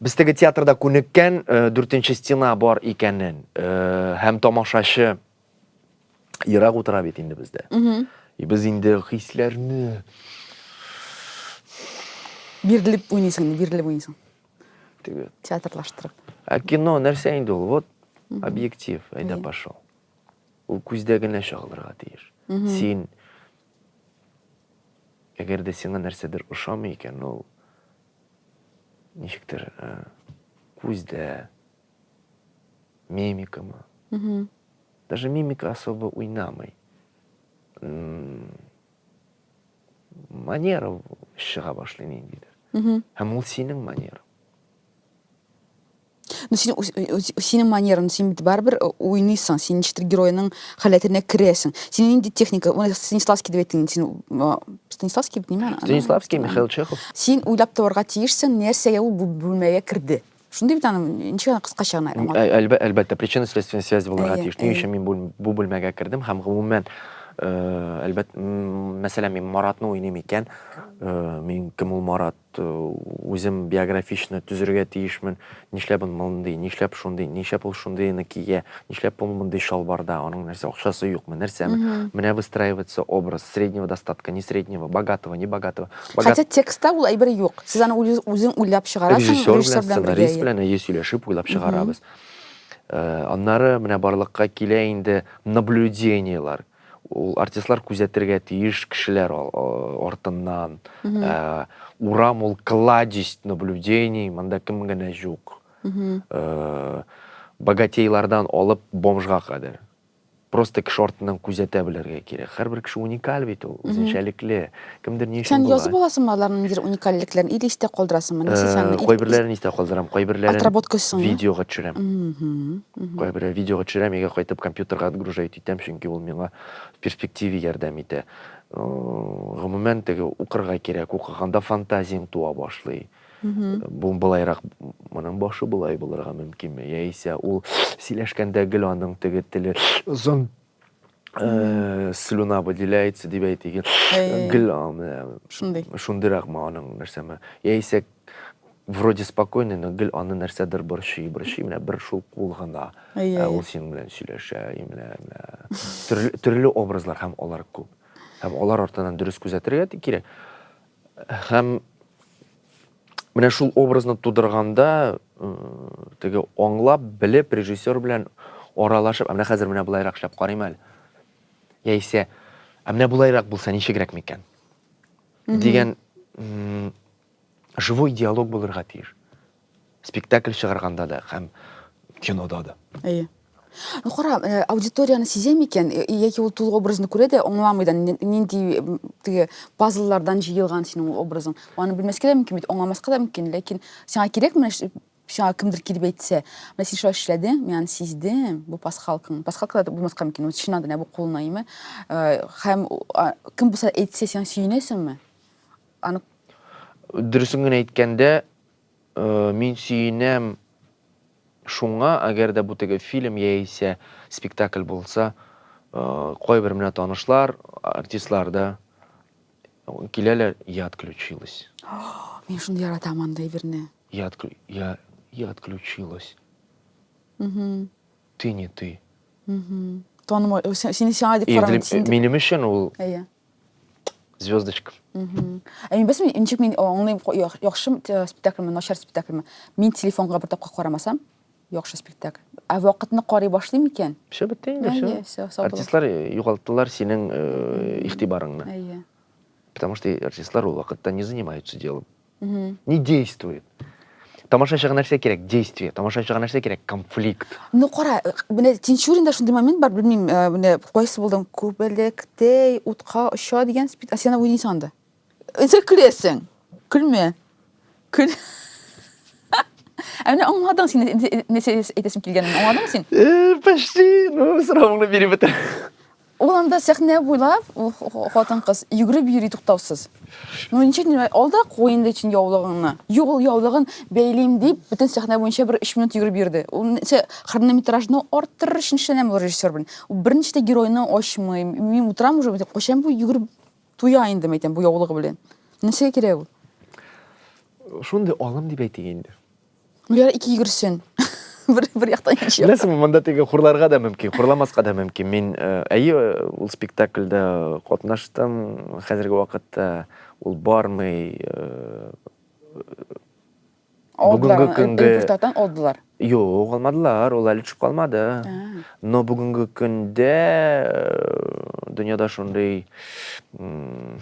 Без теге театрда күнеккән э, дүртенче стена бар икәнен э, һәм тамашачы Ерак утыра бит инде бездә. И без инде хисләрне бирелеп уйныйсың, бирелеп уйныйсың. Теге театрлаштырып. Ә кино нәрсә инде ул? Вот объектив, әйдә пошел. Ул күздә генә чагылырга тиеш. Син әгәр дә сиңа нәрсәдер ошамый икән, ул ничектер күздә мимика ма. Угу. Даже мимика особо уйнамый. Манера шыға башлый ниндидер. Угу. Һәм ул синең манера. Ну, син, синең манерың, син бит барыбер уйныйсың, син ничектер геройның халәтенә керәсең. Син нинди техника, ул Станиславский дип әйттең, син Станиславский бит, ниме? Станиславский, Михаил Чехов. Син уйлап табарга тиешсең, нәрсәгә ул бүлмәгә керде. Шундый бит аның ничек аны кыскача гына аңлат. Ә, әлбә, әлбәттә, причинно-следственная связь булырга тиеш. Ни өчен мин бу бүлмәгә кердем һәм гомумән э, әлбәт, мәсәлән, мин Маратны уйныйм икән, э, мин кем ул Марат, э, үзем биографичны төзергә тиешмен, нишләп ул мондый, нишләп шундый, нишләп ул шундыйны кия, нишләп ул мондый шалбарда, аның нәрсә, акчасы юкмы, нәрсәме, менә выстраивается образ среднего достатка, не среднего, богатого, не богатого. Богат... Хотя текстта ул әйбер юк. Сез аны үзең уйлап чыгарасың, режиссер белән, сценарист белән әйе сөйләшеп уйлап чыгарабыз. Э, аннары менә барлыкка килә инде наблюдениелар. Ул артистлар күзәтергә тиеш кешеләр артыннан. Э, урам ул кладезь наблюдений, монда кем генә юк. Э, богатейлардан алып бомжга кадәр. просто кеше артыннан күзәтә белергә кирәк. Хәрбер кеше уникаль бит ул, үзенчәлекле. Кемдер ни өчен Сән була? язып аласыңмы аларның ниндидер уникальлекләрен или истә калдырасыңмы? Нәрсә сән? Э, кайберләрен истә калдырам, кайберләрен отработка өчен видеога төшерәм. Кайберләр видеога төшерәм, егә кайтып компьютерга отгружать итәм, чөнки ул миңа в перспективе ярдәм итә. Э, гомумән теге укырга кирәк, укыганда фантазияң туа башлый. Бу былайрак моның башы болай булырга мөмкинме? Яисә ул сөйләшкәндә гел аның теге теле озын э, слюна выделяется дип әйтик. Гел аны шундый. Шундыйракмы аның нәрсәме? Яисә вроде спокойный, но гел аны нәрсәдер борчый, борчый, менә бер шул кул гына. Ә ул синең белән сөйләшә, и менә төрле, төрле образлар һәм алар күп. Һәм алар артынан дөрес күзәтергә кирәк. Һәм менә шул образны тудырганда теге аңлап, белеп, режиссер белән аралашып, менә хәзер менә болайрак эшләп карыйм әле. Яисә, ә менә болайрак булса ничегрәк микән? Дигән живой диалог булырга тиеш. Спектакль чыгарганда да һәм кинода да. Әйе. Ну, кара, э, аудиторияны сизәм икән, э, яки ул тулы образны күрә дә, аңламый да, нинди э, теге пазллардан җыелган синең ул образың. Аны белмәскә дә мөмкин бит, аңламаска да мөмкин, ләкин сиңа кирәк менә сиңа кемдер килеп әйтсә, менә син шулай эшләдең, мин аны сиздем, бу пасхалкаң. Пасхалка да булмаска мөмкин, ул чыннан да бу кулына име. Һәм кем булса әйтсә, сиңа сөенәсеңме? Аны Дөресен генә әйткәндә, Мин сөенәм шуңа, әгәр дә бу теге фильм яисә спектакль булса, кайбер менә танышлар, артистлар да киләләр, я отключилась. Мин шуны яратам андый берне. Я, я, я отключилась. Угу. Ты не ты. Угу. Танымай, сине сиңа дип караган. Минем өчен ул звездочка. Ә мин бәсме, ничек мин аңлыйм, яхшы э, спектакльме, начар спектакльме? Мин телефонга бер тапкыр карамасам, яхшы спектакль. Ә вакытны карый башлыйм икән? Все бетте инде, все. Артистлар э, югалтылар синең э, игътибарыңны. Әйе. Потому что артистлар ул вакытта не занимаются делом. Угу. Не действует. тамашачыга нәрсә кирәк действие тамашачыга нәрсә кирәк конфликт ну кара э, менә тинчуринда шундый момент бар белмим э, менә кайсы булдың күбәләктәй утка оча дигән спид сен уйныйсың анда сен көләсең көлмә көл Ә менә аңладың син нәрсә әйтәсем килгәнен, аңладың син? Э, почти, ну, сорауыңны биреп бетер. Ул анда сәхнә буйлап, ул хатын-кыз йөгереп йөри туктаусыз. Ну ничек димә, ал да куй инде син яулыгыңны. Юк, ул яулыгын бәйлим дип, бөтен сәхнә буенча бер 3 минут йөгереп йөрде. Ул нәрсә, хронометражны арттырыр өчен эшләнәме ул режиссер белән? Ул берничә дә геройны ачмый. Мин утырам уже, әйтәм, кайчан бу йөгереп туя инде, әйтәм, бу яулыгы белән. Нәрсәгә кирәк ул? Шундый алым дип әйтик инде. Гөләр ике йөгерсен. бер, бер яктан икенче якка. Беләсеңме, монда теге хурларга да мөмкин, хурламаска да мөмкин. Мин э, әйе, ул спектакльдә катнаштым. Хәзерге вакытта ул бармый. э, Алдылар, бүгенге аны, көнгә- репертуардан алдылар. Юк, алмадылар, ул әле төшеп калмады. Но бүгенге көндә э, дөньяда шундый м,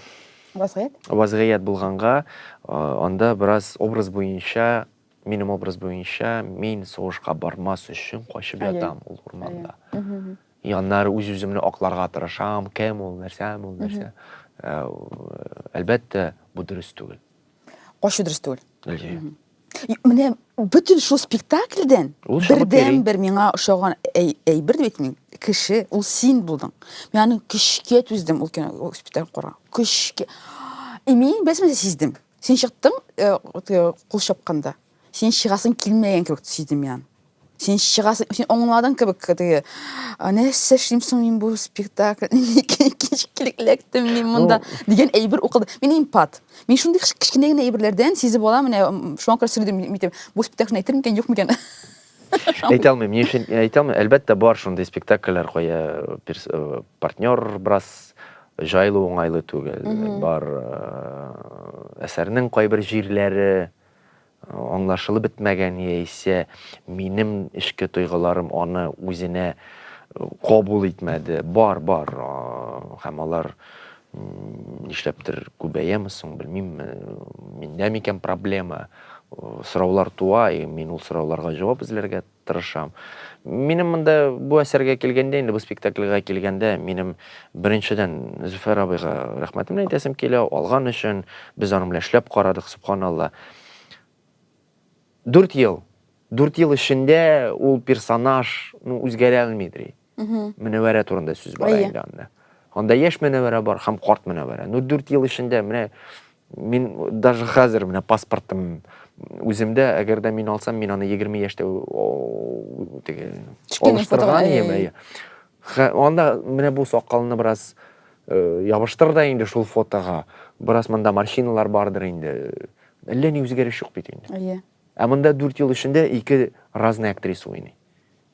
Вазгыять? Вазгыять булганга, анда бераз образ буенча, минем образ буенча, мин сугышка бармас өчен качып ятам ул урманда. И аннары үз-үземне акларга тырышам, кем ул, нәрсә ул, нәрсә. Әлбәттә, бу дөрес түгел. Качу дөрес түгел. Менә бөтен шул спектакльдән Ул шагыйрь. бердән бер миңа ошаган әй- әйбер дә бит мин кеше ул син булдың. Мин аны көчкә түздем ул кино ул спектакль кора. Көчкә. И мин бәсмәсә сиздем. Син чыктың э, вот, э, кул чапканда. Син чыгасың килмәгән кебек сиздем мин аны. Син чыгасың, син аңладың кебек теге. Нәрсә эшлим соң мин бу спектакль? Кичкилектем мин монда дигән әйбер укылды. Мин импат. Мин шундый кечкенә генә әйберләрдән сизеп алам, менә шуңа күрә сөйләдем, митем. Бу спектакль әйтер микән, юк микән? Әйтә алмыйм, ни өчен әйтә алмыйм. Әлбәттә бар шундый спектакльләр кая партнер брас җайлы уңайлы түгел. Бар әсәрнең кайбер җирләре Аңлашылып бетмәгән яисә минем эчке тойгыларым аны үзенә кабул итмәде. Бар, бар, һәм алар нишләптер күбәяме соң, белмим, миндә микән проблема, сораулар туа, и мин ул сорауларга җавап эзләргә тырышам. Минем монда бу әсәргә килгәндә, инде бу спектакльгә килгәндә, минем беренчедән Зөфәр абыйга рәхмәтемне әйтәсем килә, алган өчен, без аның белән эшләп карадык, субханалла. Дүрт ел, дүрт ел эчендә ул персонаж, ну, үзгәрә алмый, Мөнәвәрә турында сүз бара инде анда. Анда яшь мөнәвәрә бар һәм карт мөнәвәрә. Ну, 4 ел эчендә менә мин даже хәзер менә паспортым үземдә, әгәр дә мин алсам, мин аны 20 яшьтә теге алыштырган идем. Анда менә бу сакалны бераз э, ябыштыр да инде шул фотога. Бераз монда морщиналар бардыр инде. Әллә ни үзгәреш юк бит инде. Әйе. Ә монда 4 ел эчендә ике разный актриса уйный.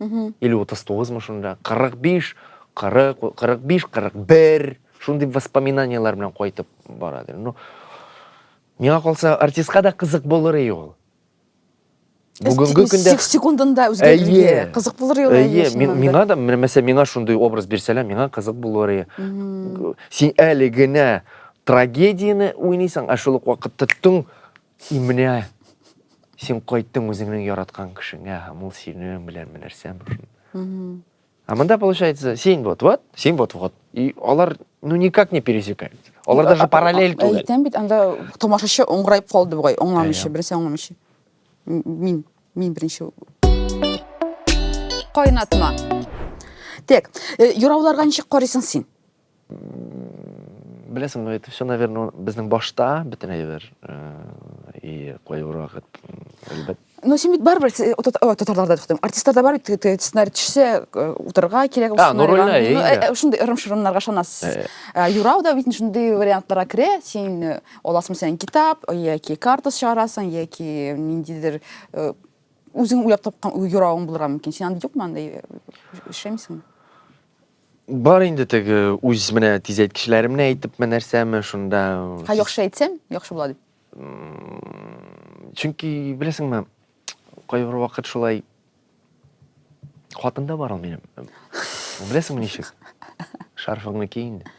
или утыз тугызмы шунда кырык биш кырык кырык биш кырык бер шундый воспоминаниялар белән кайтып барадыр ну миңа калса артистка да кызык булыр и ул бүгінгі күндә секундында үзгәрергә кызык булыр ел әйе миңа да мәсәлән миңа шундый образ бирсәләр миңа кызык булыр ие син әле генә трагедияне уйныйсың ә шул ук вакытта түң И менә син кайттың үзеңнең яраткан кешеңә һәм ул синең белән нәрсә мөһим а монда получается син вот вот син вот вот и алар ну никак не пересекаются алар даже параллель түгел әйтәм бит анда тамашачы оңгырайып калды бугай аңламыйча берсе аңламыйча мин мин беренче кайнатма так юрауларга ничек карыйсың син Беләсеңме, это все, наверное, безнең башта бөтен әйбер и кайбер вакыт әлбәт. Но син бит барыбер татарларда туктым. Артистларда бар бит сценарий төшсә утырырга кирәк ул сценарийга. Шундый ырым-шырымнарга ышанасыз. Юрау да бит шундый вариантларга керә. Син аласың сән китап, яки карта чыгарасың, яки ниндидер үзең уйлап тапкан юравың булырга мөмкин. Син анда юкмы анда эшләмисеңме? Бар инде теге үз менә тизәйткечләремне әйтепме нәрсәме шунда. Ха яхшы әйтсәң, яхшы була дип. Чөнки беләсеңме, кайбер вакыт шулай хатында бар ул минем. Беләсеңме ничек? Шарфыңны ки инде.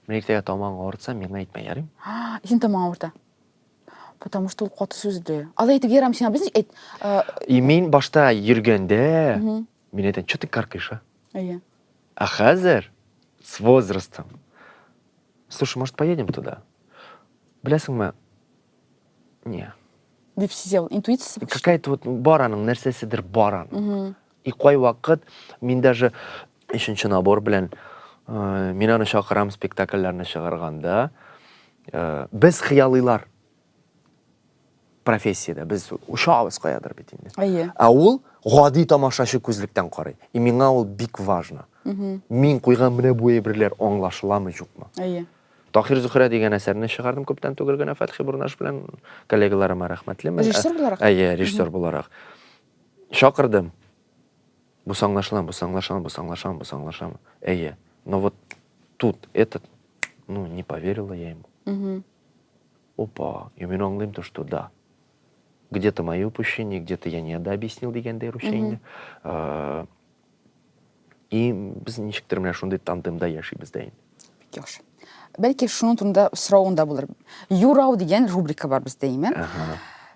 Менә иртәгә тамагың авыртса, миңа әйтмә, ярыйм? Син тамагың авырта. Потому что ул каты сүзле. Алай итеп ярам сиңа, без әйт. И мин башта йөргәндә, Мин әйтәм, че ты каркаешь, а? Әйе. А хәзер с возрастом. Слушай, может, поедем туда? Беләсеңме? Не. Дип сизә ул, интуициясе бик Какая-то вот бар аның, нәрсәседер бар аның. И кай вакыт мин даже өченче набор белән э, мин аны чакырам спектакльләрне чыгарганда, э, без хыялыйлар профессиядә без очабыз каядыр бит инде әйе ә ул гади тамашачы күзлектән карый и миңа ул бик важно мин куйган менә бу әйберләр аңлашыламы юкмы әйе Тахир Зөхрә дигән әсәрне чыгардым күптән түгел генә Фәтхи Бурнаш белән коллегаларыма рәхмәтлемен. Режиссер буларак? Әйе, режиссер буларак. Чакырдым. Бу саңлашыламы, бу саңлашыламы, бу саңлашыламы, бу саңлашыламы? Әйе. Но вот тут этот, ну, не поверила я ему. Опа, я мин аңлыйм то, что да. Где-то мои упущения, где-то я не дообъяснил дигәндәй русча инде. Э, и без ничектер менә шундый тандемда яшибез дә инде. Бик яхшы. Бәлки шуның турында сорауың да булыр. Юрау дигән рубрика бар бездә, имә.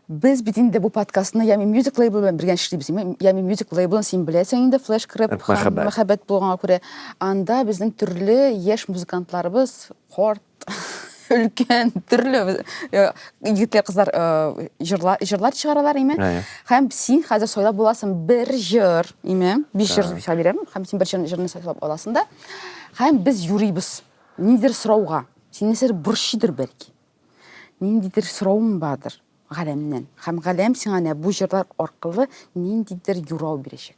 Без бит инде бу подкастны Ями Music Label белән бергә эшлибез. Ями Music Label-ын син беләсең инде, Flash Crab мәхәббәт булганга күрә. Анда безнең төрле яшь музыкантларыбыз, корт, өлкән төрле егетләр кызлар җырлар җырлар чыгаралар име һәм син хәзер сайлап буласың бер җыр име биш җыр сайлап бирәм һәм син бер җырны сайлап аласың да һәм без юрыйбыз ниндидер сорауга сине нәрсәдер борчыйдыр бәлки ниндидер сорауың бардыр галәмнән һәм галәм сиңа менә бу җырлар аркылы ниндидер юрау бирәчәк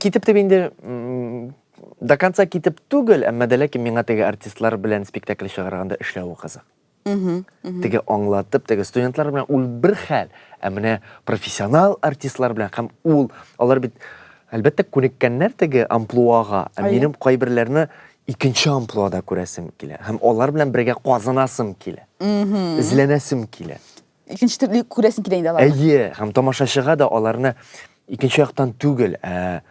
китеп дип инде до конца китеп түгел, әмма дә ләкин миңа теге артистлар белән спектакль чыгарганда эшләве кызык. Теге аңлатып, теге студентлар белән ул бер хәл, ә менә профессионал артистлар белән һәм ул, алар бит әлбәттә күнеккәннәр теге амплуага, ә минем кайберләрне икенче амплуада күрәсем килә һәм алар белән бергә казынасым килә. Эзләнәсем килә. Икенче төрле күрәсең килә инде аларны. Әйе, һәм тамашачыга да аларны икенче яктан түгел, ә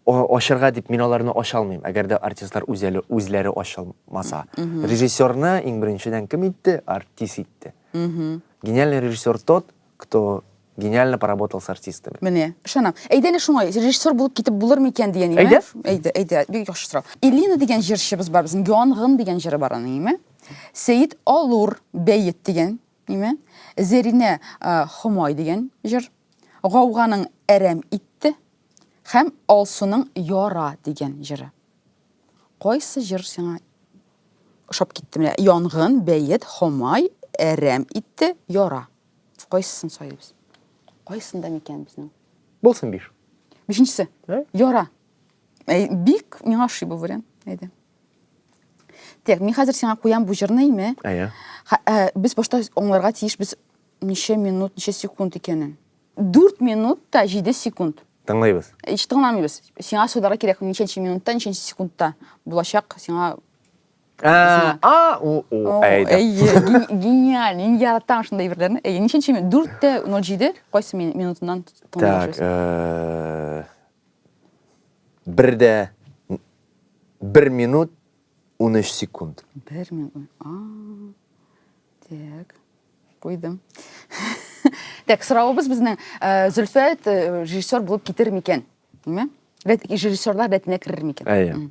ачарга дип мин аларны ача алмыйм, әгәр дә артистлар үзәле үзләре ачылмаса. Режиссерны иң беренчедән кем итте? Артист итте. Гениальный режиссер тот, кто Гениально поработал с артистами. Менә, ышанам. Әйдә әле шуңа, режиссер булып китеп булыр микән дигән име? Әйдә. Әйдә, әйдә, бик яхшы сорау. Элина дигән җырчыбыз бар безнең, Янгын дигән җыры бар аның, име? Сәет Алур бәет дигән, име? Зәринә э, Хомай дигән җыр. Гауганың әрәм итте һәм Алсуның яра дигән җыры. Кайсы җыр сиңа ошап китте? Менә Янгын, бәет, Хомай, әрәм итте, яра. Кайсысын сайлыйбыз? Кайсында микән безнең? Булсын биш. Бишенчесе. Ә? Яра. Әй, бик миңа ошый бу вариант. Әйдә. Так, мин хәзер сиңа куям бу җырны име? Әйе. Ха- ә, Без башта аңларга тиеш без ничә минут, ничә секунд икәнен. 4 минут та 7 секунд. Тыңлыйбыз. Ич тыңламыйбыз. Сиңа сөйләргә кирәк ничәнче минутта, ничәнче секундта булачак сиңа Ә, а, у, у, О, әйдә. әйе, ге- гениаль, мин яратам шундай әйберләрне. Әйе, ничәнче минут? Дүрттә ноль җиде, кайсы мин- минутыннан Так, тыңлашасың? э, бер дә бер минут 13 секунд. Бер минут. А, Так, куйдым. Так, соравыбыз безнең э, Зөлфәт э, режиссер булып китер микән? Димме? Рәт- Режиссерлар рәтенә керер микән? Әйе. М.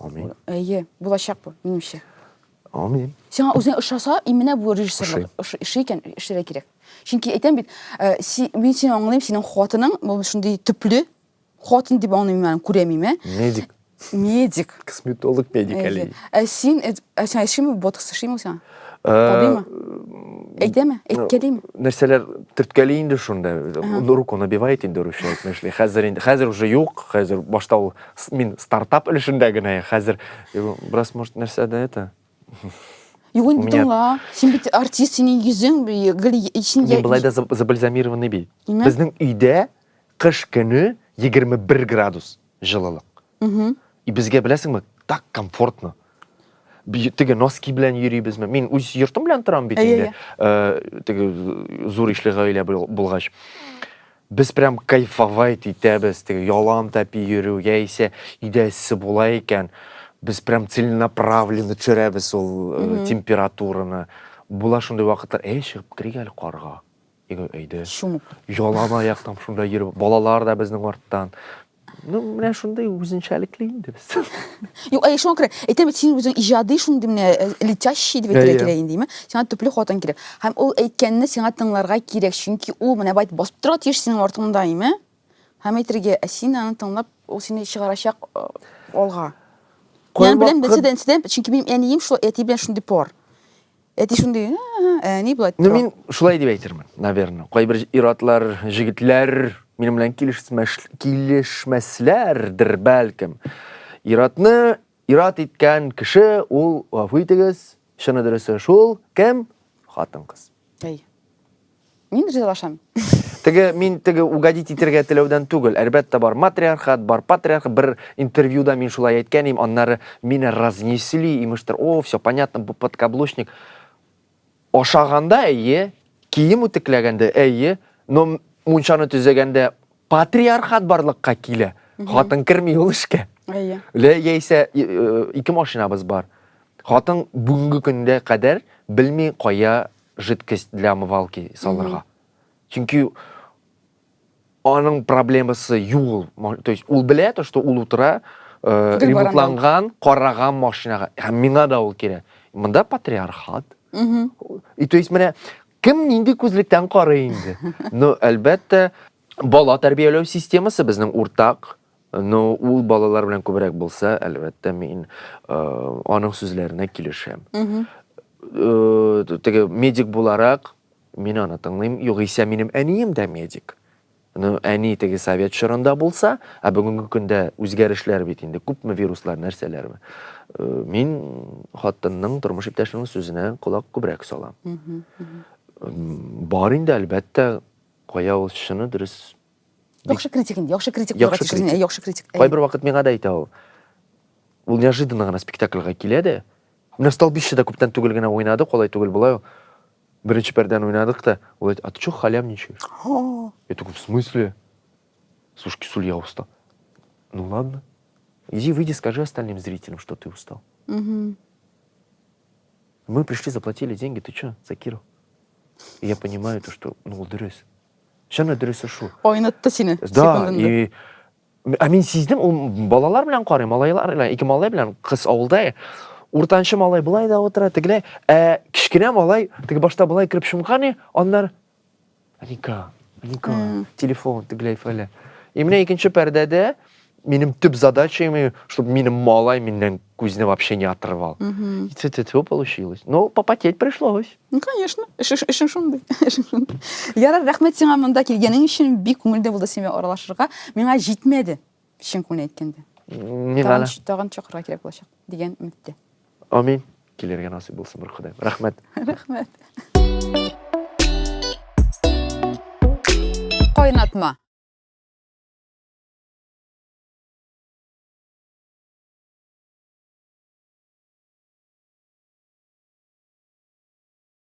Амин. Әйе, булачак бу, минемчә. Амин. Сиңа үзең ошаса, именно бу режиссерлык эше икән, эшләргә кирәк. Чөнки әйтәм бит, э, мин сине аңлыйм, синең хатының бу шундый төпле хатын дип аңлыйм мин, күрәмим, ә? Медик. Медик. Косметолог медик әле. Ә син, э, ә син эшеме ботокс эшлиме сиңа? Э, Табыймы? Әйтәме? Әйткәлиме? Нәрсәләр төрткәли инде шунда. Руку набивает инде русча әйтмешли. Хәзер инде, хәзер уже юк, хәзер башта ул Мин стартап өлешендә генә я хәзер. Бераз может нәрсә дә это. Юк инде тыңла. Син бит артист, синең йөзең гел ичендә. Мин былай да забальзамированный бит. Безнең өйдә кыш көне 21 градус җылылык. И безгә беләсеңме, так комфортно. теге носки белән йөрибезме мин үз йортым белән торам бит инде теге зур ишле гаилә булгач без прям кайфовать итәбез теге ялан тәпи йөрү яисә өйдә эссе була икән без прям целенаправленно төшерәбез ул температураны була шундый вакытлар әй чыгып керик әле карга Иго әйдә. Чумып. Ялан аяк там шунда йөреп, балалар да безнең арттан. Ну, менә шундый үзенчәлекле инде без. Юк, әй шуңа күрә әйтәм бит син үзең иҗади шундый менә э, летящий дип әйтергә Әйе. кирәк инде, име? Сиңа төпле хатын кирәк. Һәм ул әйткәнне сиңа тыңларга кирәк, чөнки ул менә бай басып тора тиеш синең артыңда, име? Һәм әйтергә, ә син аны тыңлап, ул сине чыгарачак э, алга. Мин аны беләм, Кайвакыт- берседән, берседән, чөнки минем әнием шул әти белән шундый пар. Әти шундый, ә, ни болай Ну, мин шулай дип әйтермен, наверное. Кайбер ир-атлар, җегетләр минем белән килешмәсләрдер, бәлкем. Ир-атны ир-ат иткән кеше, ул, гафу итегез, чыны дөресе шул, кем? Хатын-кыз. Әй. Мин ризалашам. Теге мин теге угодить итергә теләүдән түгел, әлбәттә бар матриархат, бар патриарх, бер интервьюда мин шулай әйткән идем, аннары мине разнесли, имештер, о, все понятно, бу подкаблучник. Ашаганда әйе, кием үтекләгәндә әйе, но мунчаны төзегәндә патриархат барлыкка килә. Хатын керми ул эшкә. Әйе. Лә яисә э, э, ике машинабыз бар. Хатын бүгенге көндә кадәр белми кая жидкость для омывалки салырга. Чөнки аның проблемасы юл. То есть ул белә то, что ул утыра э, ремонтланган, караган машинага. Һәм миңа да ул кирәк. Монда патриархат. И то есть менә кем нинди күзлектән карый инде. Но әлбәттә Бала тәрбияләү системасы безнең уртак. Но ул балалар белән күбрәк булса, әлбәттә, мин э, аның сүзләренә килешәм. Э, теге медик буларак мин аны тыңлыйм. Югыйсә минем әнием дә медик. Ну, әни теге совет чорында булса, ә бүгенге көндә үзгәрешләр бит инде, күпме вируслар, нәрсәләрме. Э, мин хатынның, тормыш иптәшенең сүзенә колак күбрәк салам. М, Бар инде, әлбәттә, Кая ул чыны дөрес. Яхшы критик инде, яхшы критик булырга тиеш үзеңә, яхшы критик. Кайбер вакыт миңа да әйтә ул. Ул неожиданно гына спектакльга килә дә. Менә столбищеда күптән түгел генә уйнады, колай түгел болай ул. Беренче пәрдәне уйнадык та, ул әйтә, а ты что халявничаешь? Я такой, в смысле? Слушай, Кисуль, я устал. Ну ладно. Иди выйди, скажи остальным зрителям, что ты устал. Угу. Мы пришли, заплатили деньги, ты что, за Киру? И я понимаю то, что, ну, ол дөрес. Шын да дөресе шул. Ойнатты сине Да, и ә мин сиздем, ул балалар белән карый, малайлар белән, ике малай белән кыз авылда. Уртанчы малай былай да утыра, тегеләй, ә кечкенә малай теге башта былай кереп чумган, аннар Ника, ника, э. телефон тегеләй фәлә. И менә икенче пәрдәдә минем төп задача, чтобы минем малай миннән күзне вообще не отрывал. И цитету получилось. Но попотеть пришлось. Ну, конечно. Эшең шундый. Ярар, рәхмәт сиңа монда килгәнең өчен. Бик күңелле булды сиңа аралашырга. Миңа җитмәде. Чын күңелен әйткәндә. Миңа Тагын, да. тагын чакырырга кирәк булачак, дигән өметтә. Амин. Килергә насыйп булсын бер Ходаем. Рәхмәт. Рәхмәт. Кайнатма.